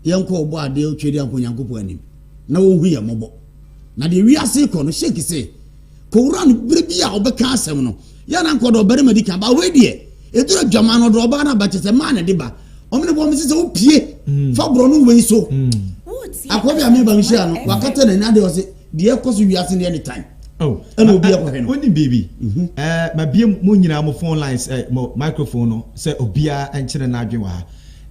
C: yɛnkɔ ɔbɔ adeɛ otwa de ankɔ nyankopɔn anim na wɔhu yɛn mmɔbɔ na deɛ wiase kɔ no sheik sɛ kɔwura no berɛ bi a ɔbɛka asɛm no yɛ na nkɔdɔ ɔbarima di kan ba wei deɛ ɛduru adwama no ɔdɔ ɔbaa no aba kyɛ sɛ maa na de ba ɔmene bɔ mese sɛ wopie mm. fa borɔ no wei so mm. akɔ bi a meba mehyia no wakata n'ani adeɛ ɔse deɛ ɛkɔ so wiase deɛ ne tan oh. ɛna obi akɔhwɛ no woni biribi mhm.
B: eh, mabie mo nyinaa mo phone lines eh, mo microphone no sɛ obiara nkyerɛ no adwen wɔ ha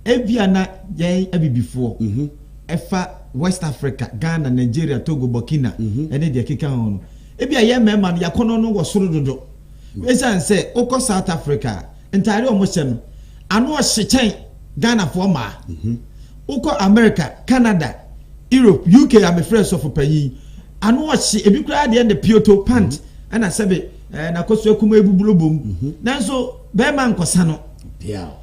B: ebia na yɛn abibifoɔ mhm. Ɛfa West Africa, Ghana, Nigeria, Togo, Burkina, ne deɛ ɛkeka ho no, ebia yɛn mmarima no, yɛn akɔnnɔ no wɔ soro dodo. Esiane sɛ wokɔ South Africa a, ntadeɛ a wɔhyɛ no, ano hye kyɛn Ghanafoɔ mmaa. Wokɔ America, Canada, Europe, UK a mefrɛɛ sɔfo panyin yi, ano hye, ebi koraa deɛ ne pioto, pant, ɛna sɛbe n'akosua kumaa yi bobɔ bom. Nanso barima nkɔsa no.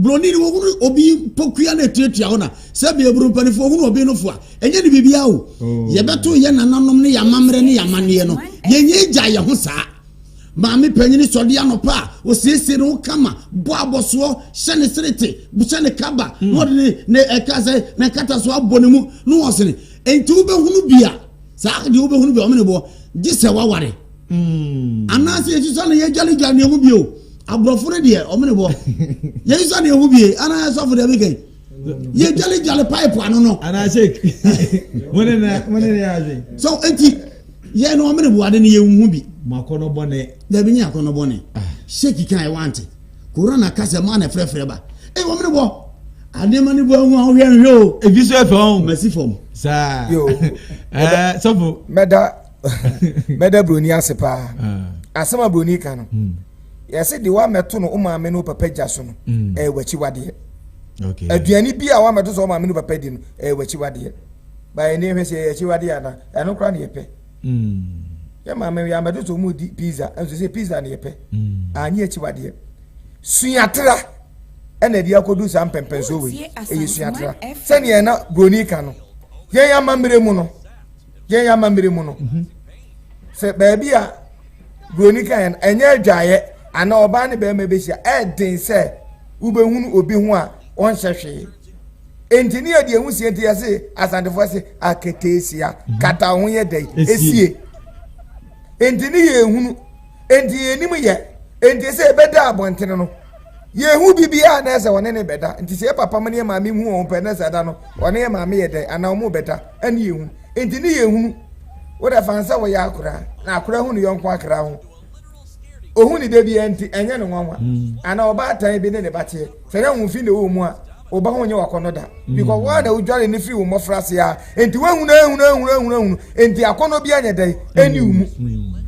C: Buroni no wɔhunu obi pokua na ɛtuatua hɔ na sɛbi aburo mpanimfoɔ wɔhunu obi no fo a ɛnyɛ ne biribiara o oh. yɛbɛto yɛ nananom ne yɛ amammerɛ ne yɛ amanneɛ no yɛnyɛ gya yɛ ho saa maame panyin sɔde anɔpa a osiesie ne ho kama bɔ abɔsoɔ hyɛ ne serete hyɛ ne kaba hmm. na ɔde ne ne ɛka sɛ ne nkataso abɔ ne mu na ɔsene nti wobɛhunu bi a saa deɛ wobɛhunu bi ɔmene boɔ gye sɛ waware hmm. anaasɛ yɛsusua no yɛdwaledwale ne ɛho bio aborɔfo no deɛ ɔmene boɔ yɛsusua ne ɛho bie anaa sɔfo deɛ bɛkɛn yɛdwaledwale pipe ano no
B: so enti
C: yɛ no ɔmene boade no yɛhu bi
B: dabi nyɛ akɔnɔ bɔne
C: hyɛki kan ɛwante Kura na ka sɛ maa na frɛfrɛ ba. Ee wɔn ne bɔ. Adeɛma ne bɔ ahu a wohwɛ nhwɛ o. Ebi so ɛfɛ ɔn. Masi
B: fam. Saa.
C: Yo.
B: Ɛɛ sɔfo. Mɛda
A: mɛda broni ase paa. Ah. Asɛm a broni ka no. Hmm. Yɛsɛ de wa mɛto no o maame no papa gya so no. Hmm. Ɛyɛ wakyi wadeɛ. Okay.
B: Aduane bi a wa
A: mɛto so o maame no papa di no ɛyɛ wakyi wadeɛ. Baa yɛn ni hwɛ sɛ ɛyɛ akyi wadeɛ ana ɛno kora na yɛpɛ. mm. Yɛ maame yɛ amɛdo so mu di pizza nso sɛ pizza ne yɛ pɛ mm. anyi akyi wadeɛ suatra ɛna ɛde akɔdu saa mpɛmpɛnsoɔ wei ɛyɛ suatra sɛdeɛ na buroni ka no yɛn amammerɛ mu no yɛn amammerɛ mu no mhm. sɛ baabi a buroni ka yɛn ɛnyɛ adwaeɛ ana ɔbaa ne bɛrima bɛhyia ɛden sɛ wobɛhunu obi ho a ɔnhyɛ hwee nti ne yɛde ehu sie nti yɛse asantefoɔ se aketeesia mhm. kata ho yɛ dɛ esie nti ne yɛ ehunu nti yɛ anim yɛ nti sɛ ebɛda abɔntene no yɛ ehu bibiara na ɛsɛ ɔne ne bɛda nti sɛ yɛ papa mu ne yɛ maame hu wɔn pɛ na sɛ ɛda no ɔne yɛ maame yɛ dɛ anaa wɔn bɛda ɛne yɛ hu nti ne yɛ ehunu wɔde afa nsa wɔ yɛ akora na akora hu ne yɔnko akora ho. Ohu ne da biara nti, ɛnyɛ no nwanwa. Mm. Anaa ɔbaatan bi ne ne ba teɛ. Sɛ na wo mfe na ɛwɔ mu a, wo ba ho nyɛ wakɔnnɔ da. Mm. Because wo a na wodware ne firi wo mmɔfra ase a, enti woahunu ahunu ahunu ahunu ahunu, enti akɔnnɔ bi anyɛ dɛn, ɛni wo mu.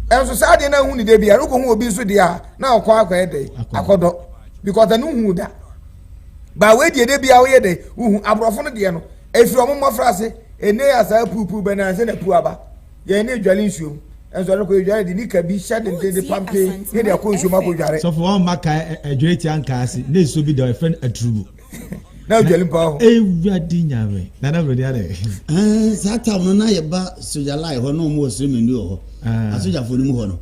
A: Ɛnso mm. saa deɛ na ahu ne da biara, wokɔhu obi nso deɛ a, na ɔkɔ akɔyɛ dɛn, akɔdɔ. Because ɛno hu da. Baa wei deɛ da biara woyɛ dɛn, wohu. Aborɔfo no deɛ no, ɛfiri wɔn mmɔfra ase, ɛnɛ yɛ asaa puupuu bɛnansa na puu aba. Yɛn ani adware nsuom, nanso ɛno kɔ yɛdware de nika bi hyɛ denden de pampe yɛn de akɔ nsuom akɔdware. Sɔfo, wɔn mma kae
B: ɛdware tia nkaase ne nsuo bi da hɔ, yɛfrɛ no aturubu. Na ɔdware
A: mpo wɔ hɔ. Awurade Nyame!
B: Nana Broni adɛn? Saa tam
C: no na yɛba Soja Line hɔ na wɔn wɔ Sremendu wɔ hɔ, Asojafoɔ no mu hɔ no.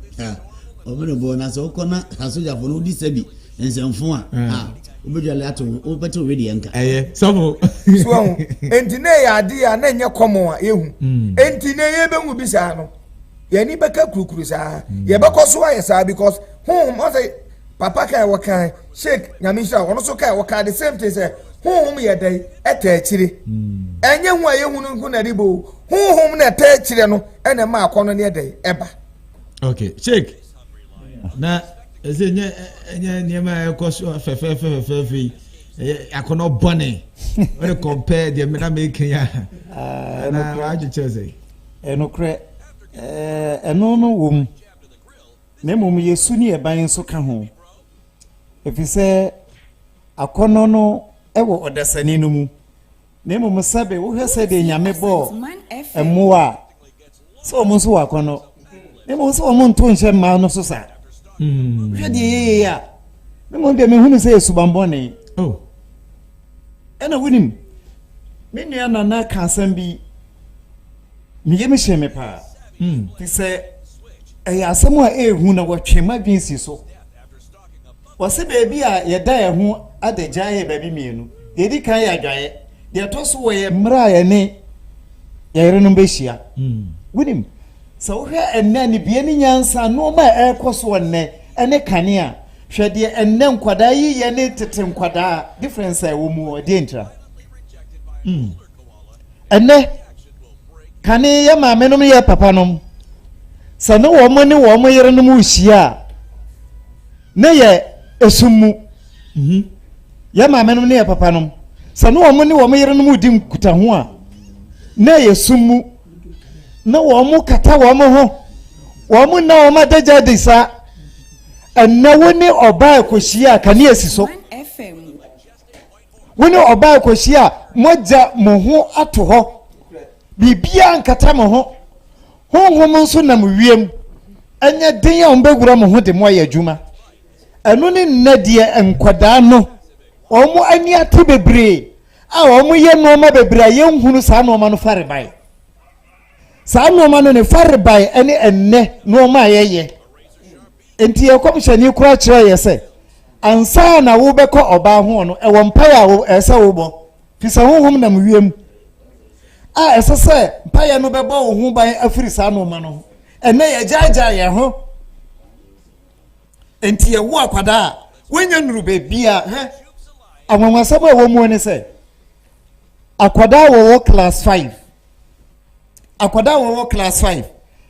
C: Wɔn menebɔ, na sɛ wokɔ na Asojafoɔ no wodi sɛbi Nsɛmfo a, hmm. a wobɛdwale ato wobɛte owe deɛ nka ɛyɛ sɔfo
B: so ahu
A: enti na ɛyɛ adeɛ a na ɛnyɛ kɔmɔ a yɛhu hmm. enti na yɛbɛhu bi saa no yɛni bɛka kurukuru saa hmm. yɛbɛkɔ so ayɛ saa because honhom ɔsɛ papa kan wɔ kan sheik nyame nhyira wɔn nso kan wɔ kan the same thing sɛ honhom yɛ dɛn ɛtɛ akyire ɛnyɛ ho a yɛhu no nko na ɛde bo honhom na ɛtɛ akyire no ɛna ɛma akɔnɔ ne ɛdɛn ɛba okay
B: sheik Na ɛsɛ nyɛ ɛnyɛ nneɛma a ɛkɔ so fɛfɛɛfɛ fɛfɛɛfɛ yi ɛyɛ akɔnɔ bɔne ɔde compare deɛ mena meka yi a ah, na wadwekyerɛ sɛ ɛnokorɛ
D: ɛno no wɔ mu na mmom yɛsu ne yɛban nso ka ho ɛfiri sɛ akɔnɔ no wɔ ɔdasani no mu Na mmom sɛbe wohwɛ sɛdeɛ Nyame bɔɔ mmoa a, sɛ wɔn nso wɔ akɔnnɔ. Na mmom sɛ wɔn nto nhyɛ mmaa no so saa. Hmm. Hwɛ deɛ yɛyɛ yi a, na mmom deɛ mehunu sɛ yɛ subanbɔne. Oh. Ɛna wonim, me nua nana ka asɛm bi, meyɛ me hyɛ me paa. Hmm. Te sɛ ɛyɛ asɛm a ɛrehu na wɔtwe m'adwene si so. Wɔse baabi a yɛda yɛn ho adagya yɛ baabi mmienu. Deɛ ɛdi kan yɛ adwaeɛ. Deɛ ɛtɔ so wɔ yɛ mmerɛ a yɛne yɛn yerenom bɛhyia. Wonim, sɛ wohwɛ ɛnnɛ anibue ne nyansa, nnoɔma a ɛrekɔ so wɔ nnɛ ne kane a, hwɛ deɛ ɛnnɛ nkwadaa yi yɛ ne tete nkwadaa, difference a ɛwɔ mu hɔ, ɛdeɛn ntira? ɛnɛ kane yɛ maamenom yɛ papanom sɛ ne wɔn ne wɔn yerenom rehyia a ne yɛ esum mu mhm. yɛ maamenom ne yɛ papanom sɛ ne wɔn ne wɔn yerenom redi nkutaho a ne yɛ sum mu na wɔn kata wɔn ho wɔn nna wɔn adagya adi saa ɛnna wo ne ɔbaa ekohyia a kanea si so. wo ne ɔbaa kɔhyia a moagya mo ho ato hɔ biribiara nkata mo ho honhom nso nam wiem ɛnyɛ den a wɔbɛwura mo ho de mo ayɛ adwuma ɛno ne nnɛ deɛ nkwadaa no wɔn ani ate bebree a wɔn yɛ nneɛma bebree a yɛnhunu saa nneɛma no farebae saa nneɛma no ne farebae ɛne ɛnnɛ nneɛma a yɛyɛ Enti yɛn kɔmhyɛni kora kyerɛɛ yɛ sɛ, ansa na wobɛkɔ ɔbaa ho no, ɛwɔ mpaeɛ a ɛsɛ sɛ wobɔ, firi sɛ honhom nam wiem a ɛsɛ sɛ mpaeɛ no bɛbɔ wo ho ban afiri saa nnoɔma no ho. Ɛnnɛ yɛagyaagyaa yɛn ho, enti yɛwo akwadaa a wɔnya nnuru baabia. Hwɛ, anwanwasɛm a ɛwɔ mu ne sɛ, akwadaa a wɔwɔ class 5 akwadaa a wɔwɔ class five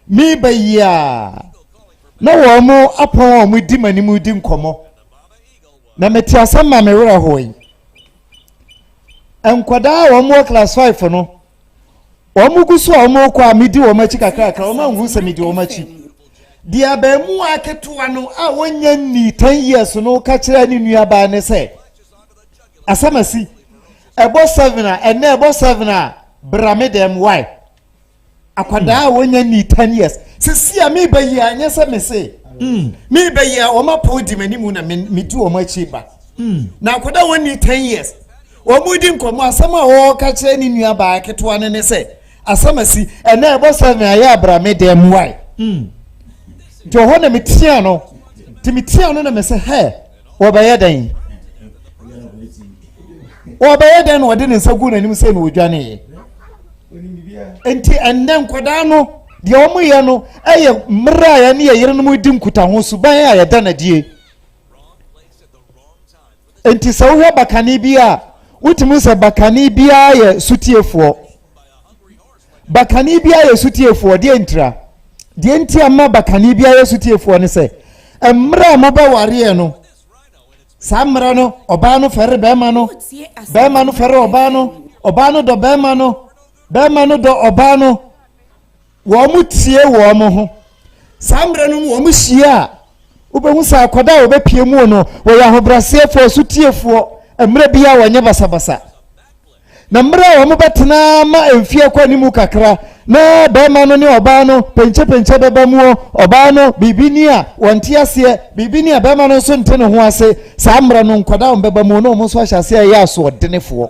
D: meba yi a na wɔn apɔn a wɔdi m'anim di nkɔmmɔ na mete asɛm ma me werɛ hoe nkwadaa a wɔwɔ class five no wɔn gu so a wɔn kɔ a medi wɔn akyi kakrakra wɔn ahu sɛ medi wɔn akyi deɛ abɛɛmua ketewa no a wɔnyɛ ni ten years no ka kyerɛ ne nuabaa ne sɛ. Asɛm asi. Ɛbɔ seven a, ɛnɛ ɛbɔ seven a, bra me dɛm why? Akwadaa a wɔnya ni ten years. Sisi a meba yi a, nyɛ sɛ me se. Hmm. Meba yi a, wɔn apɔw di m'anim na me di wɔn akyi ba. Hmm. Na akwadaa wɔn ni ten years. Wɔn di nkɔmɔ asɛm a wɔka kyerɛ ne nua baa ketewa no ne sɛ, asɛm asi, ɛnɛ ɛbɔ seven a, yɛ abra me dɛm why? Hmm. Nti ɔhɔ na metia no. Nti metia no na me se, hɛ. Wɔbɛyɛ dɛn? Wɔbɛyɛ dɛn na wɔde ne nsa gu n'anim sɛ na wɔdwaneeɛ? Enti ɛnnɛ nkwadaa no, deɛ wɔyɛ no yɛ mmerɛ a yɛne yɛ yerenom di nkutaho suban a yɛda no adie. Enti sɛ wohwɛ bakane bi a, wotumi sɛ bakane biara yɛ sotiefoɔ. Bakane bi ayɛ sotiefoɔ, deɛ ntira? Deɛ nti ama bakane bi ayɛ sotiefoɔ ne sɛ, mmerɛ a mobɛwareɛ no, saa mmerɛ no, ɔbaa no fɛre bɛrima no, bɛrima no fɛre ɔbaa no, ɔbaa no dɔ bɛrima no, bɛrima no dɔ ɔbaa no, wɔn tie wɔn ho. Saa mmerɛ no wɔn hyia a, wobɛhu sɛ akwadaa a wɔbɛpie mu no, wɔyɛ ahobrɛaseɛfoɔ, sotiefoɔ, mmerɛ biara wɔnyɛ basabasa. Na mmerɛ a wɔbɛtena ma mfeɛ kɔ anim kakra na barima no ne ɔbaa no penkyepenkye bɛba muo, ɔbaa no biribi ni a wɔnte aseɛ, biribi ni a barima no nso nte ne ho ase, saa mmerɛ no nkwadaa wɔn bɛba muo na wɔn nso ahyɛ aseɛ ɛyɛ asoɔdenefoɔ.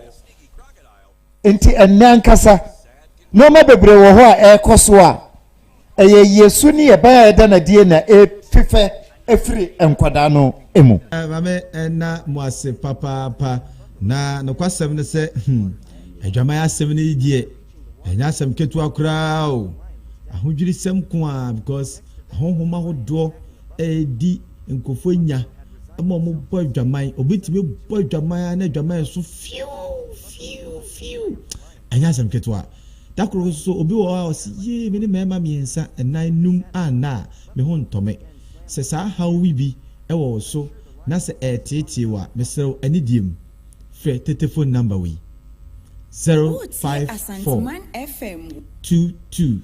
D: Nti ɛnnɛ ankasa nnoɔma bebree wɔ hɔ a ɛrekɔ so a, Ɛyɛ Yesu ne yɛbɛn a ɛda no adie na ɛfifɛ firi nkwadaa no mu. Mame ɛna
B: mo ase papaapa na nokwasɛm ne sɛ hmm adwaman asɛm no yi deɛ ɛnyɛ asɛm ketewa koraa o ahodwirisɛm nko ara because ahonhom ahodoɔ ɛredi nkurɔfoɔ nya ma wɔn bɔ adwaman obi tumi bɔ adwaman na adwaman so fiu fiu fiu Ɛnyɛ asɛm ketewa. Da koro nso, obi wɔ hɔ a ɔse, Yee, me ne mmarima mmiɛnsa, nnan, num a nna a me ho ntɔ me. Sɛ saa haw yi bi wɔ wo so na sɛ ɛreteetee wo a, mesrɛ wo, anidie mu, frɛ tete fon namba wei, zero five four, two two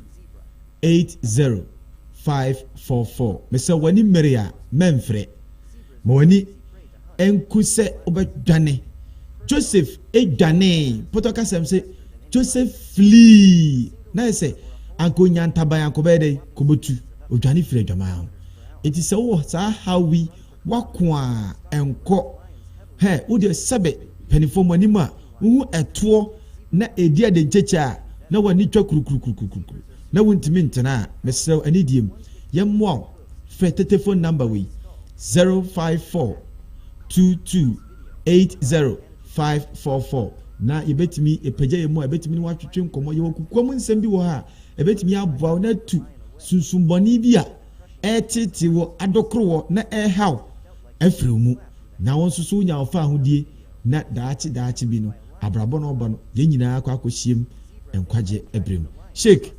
B: eight zero five four four. Mesrɛ wo, w'ani mmere a, mɛmfrɛ. Ma w'ani. Ɛnku sɛ wobɛdwane. Joseph dwanee. Pɔtɔ kasɛm se Joseph flii. Na ayɛ sɛ anka onya ntaban a kɔbɛyɛ dɛn? Kɔbɛtu. Odwane firi adwaman ho. Enti sɛ wowɔ saa haw yi, wako a, nkɔ. Hɛ, wo deɛ sɛbe mpanifoɔ mo anim a wohu ɛtoɔ na ɛdi adenkyekyɛ a, na w'ani twa kurukurukurukuruku, na wontumi ntena a, mesrɛ wo, anidie mu. Yɛmmoa wo. Frɛ tetefon nɔmba wei, zero five four two two eight zero five four four na yɛbɛtumi apagya yɛn mu a ɛbɛtumi ne watwetwe nkɔmmɔ. Yɛwɔ kukua mu nsɛm bi wɔ ha a ɛbɛtumi aboa wo na atu sunsumbɔne bi a ɛreteetee wɔ adɔkorowɔ na ɛrehaw afiri wo mu na wo nso so wonya wo faahodie na daakye daakye bi no abrabɔ na ɔba no yɛn nyinaa akɔ akɔhyiam nkwagye berɛ mu. Sheikh.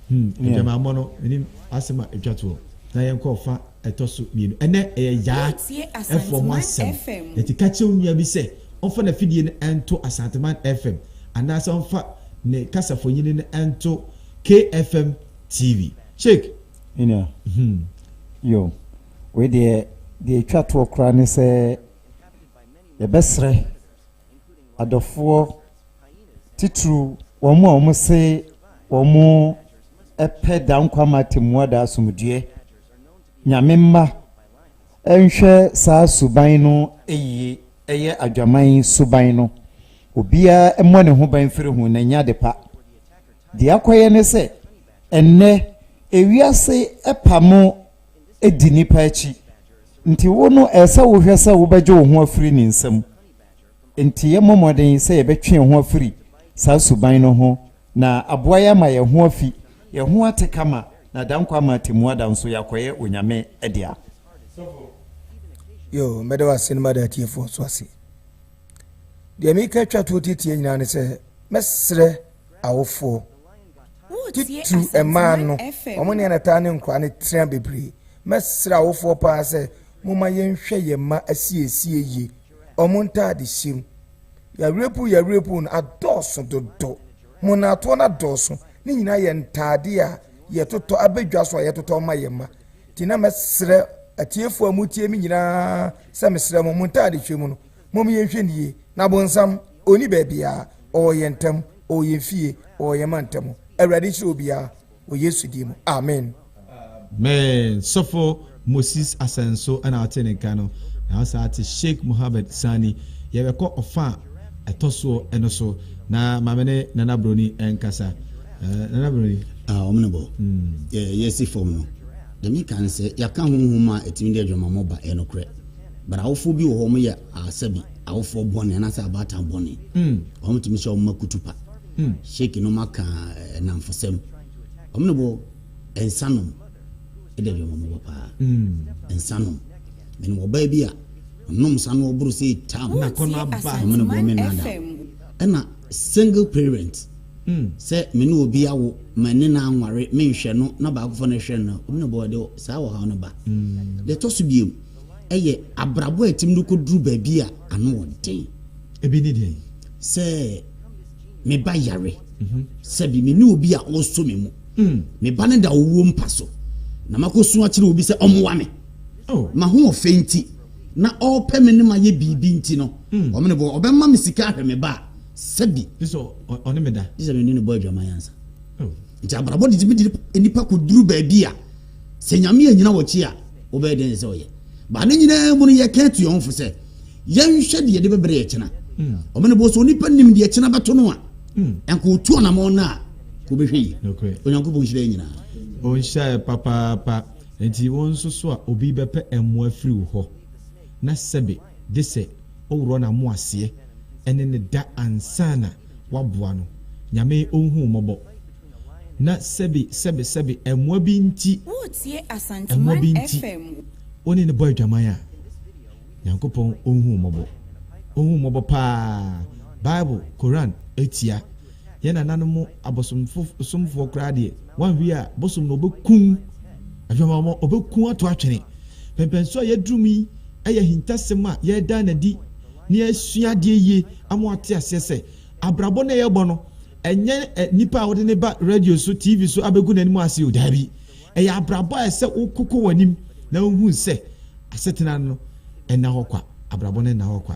B: Hmm, adwamammɔ no menim asɛm a ɛtwa toɔ na yɛnkɔ ɔfa ɛtɔ so mmienu ɛnɛ ɛyɛ yaa ɛfoɔ ho asɛm ɛti ka kyerɛ nua bi sɛ ɔmfa n'afidie no ɛnto asanteman fm anaasɛ ɔmfa ne kasafonyini no ɛnto kfm tv check ɛnua
D: hmm. yo wei deɛ deɛ ɛtwa toɔ koraa ne sɛ yɛbɛserɛ adɔfoɔ titiriw wɔn a wɔn se wɔn pɛ da nkwa ma temmua da asomdwoeɛ nyame mma nhwɛ saa suban no yie ɛyɛ adwaman suban no obiara mmɔ ne ho ban firi ho na ɛnyɛ ade pa deɛ akɔyɛ ne sɛ ɛnnɛ ewiase ɛpa mo di nipa akyi nti wo no ɛsɛ wohwɛ sɛ wobɛgye wo ho afiri ne nsam Enti yɛmmɔ mmɔden sɛ yɛbɛtwe yɛn ho afiri saa suban no ho na aboa yɛn ama yɛn ho afi yɛn ho ate kama na da nkwa ama atemmu ada nso yɛakɔyɛ Onyame dea.
A: Yo, mɛda wo ase na mada atiefoɔ nso ase. Deɛ meka twa toɔ tietie nyinaa ne sɛ mɛsrɛ awofoɔ titiriw mmaa no wɔn ne anataa ne nkora no tena bebree mɛsrɛ awofoɔ paa sɛ Momma yɛnhwɛ yɛn mma asiesie ye, wɔn ntade hyem. Yawrepuw yawrepuw no adɔɔso dodo. Mmonnaatoɔ no adɔɔso. Ne nyinaa yɛ ntade a yɛtotɔ aba dwa so a yɛtotɔ ma yɛn mma. Nti na mɛsrɛ atiefoɔ a motie me nyinaa sɛ mesrɛ mo, mo ntadehwɛ mu no, mom yɛnhwɛ no yie. Na bonsam, ɔnni baabiara. Ɔwɔ yɛn ntam, ɔwɔ yɛn fie, ɔwɔ yɛn mma ntam. Awurade nhyira obiara. wɔ Yesu din mu, amen. Amen sɔfo
B: Moses Asenso ɛna ɔte ne nka no na ɔsan ate Sheikh Mohammed Sani yɛbɛkɔ ɔfa a ɛtɔsoɔ ɛno so na maame ne Nana Broni ɛnkasa eh, Nana Broni ah, wɔn ne bɔ mm.
C: yɛ yɛsi fam no deɛ meka ne sɛ yɛaka honhom a ɛtumi de adwamammɔ ba ɛyɛ nokorɛ but awofoɔ bi wɔ hɔ wɔn yɛ asɛbi awofoɔ bɔne anaasɛ abaatan bɔne mm. wɔn tumi sɛ wɔn ma kutu pa Sheik nom aka nnamfosɛm. Wɔn ne bo nsa nom da dwom wɔn bɔ paa. Nsa nom. Menim ɔbaa bi a ɔnom nsa no ɔboro sɛ tam. Na kɔ na ba. Wɔn
B: ne bo me nada.
C: Ɛna single parent sɛ me ne obi awo ma ne na anware menhwɛ no na baakofo no hwɛ no wɔn ne bo de saa ɔhaw no ba. Deɛ ɛtɔ so biom ɛyɛ abrabɔ a ɛtim no kɔduru baabi a ano ɔden. Ebi ne deɛ.
B: Sɛ.
C: me ba yare mhm. sɛbi me ne obi a ɔsɔ me mu mm. me ba no da ɔwuo mpa so na makɔsu akyerɛ obi sɛ ɔmmoa me oh. mahoɔfɛ nti na ɔpɛ me ne mayɛ biribi nti no mm. ɔmene bɔ ɔbɛma me sika ahwɛ me ba a sɛbi ɔne me da
B: gye sɛ mene ne bɔ adwaman
C: ansa oh. nti abrabɔ de tumi de nnipa kɔduru baabi a Sɛ Nyame anyina wɔkyi a, wobɛyɛ dɛn sɛ ɔyɛ? Ba ne nyinaa mu no yɛka atua wɔn fo sɛ, yɛnhwɛ deɛ de bɛbrɛ yɛ kyena. Hmm. Ɔmo ne bɔ so onipa nim deɛ kyena bɛto no a, hmm. ɛnka otu ɔnamɔn no a, ka obɛhwɛ yie. Onyankopɔn nhyira yɛ nyinaa. Ɔnhyira yɛ
B: papaapa. Nti wo nso so a obi bɛpɛ mmoa firi wo hɔ na sɛbe de sɛ woworɔ no amo aseɛ ɛne ne da ansana waboa no nyame ɔnhu mmɔbɔ na sɛbe, sɛbe, sɛbe, mmoa bi nti, mmoa bi nti, wo ne no bɔ adwaman a, Nyankopɔn ɔnhu wo mmɔbɔ. Ɔnhu wo mmɔbɔ paa. Bible, Koran, atia. Yɛn nananom abosomfoɔ koraa deɛ, wanhwɛ a, bosom na ɔbɛkum adwamammɔ, ɔbɛkum ato atwene. Pɛmpɛn so a yɛaduru mu yi yɛ ahintasɛm a yɛreda no adi na yɛasua adeɛ yie ama wɔate aseɛ sɛ abrabɔ no a yɛbɔ no, Ɛnyɛ nipa a wode no ba radio so, TV so abegu n'anim ase o, daabi. Ɛyɛ abrabɔ a ɛsɛ wokokɔ w'anim na wuhu sɛ asetena no nna hɔ kwa, abrabɔ no nna hɔ kwa.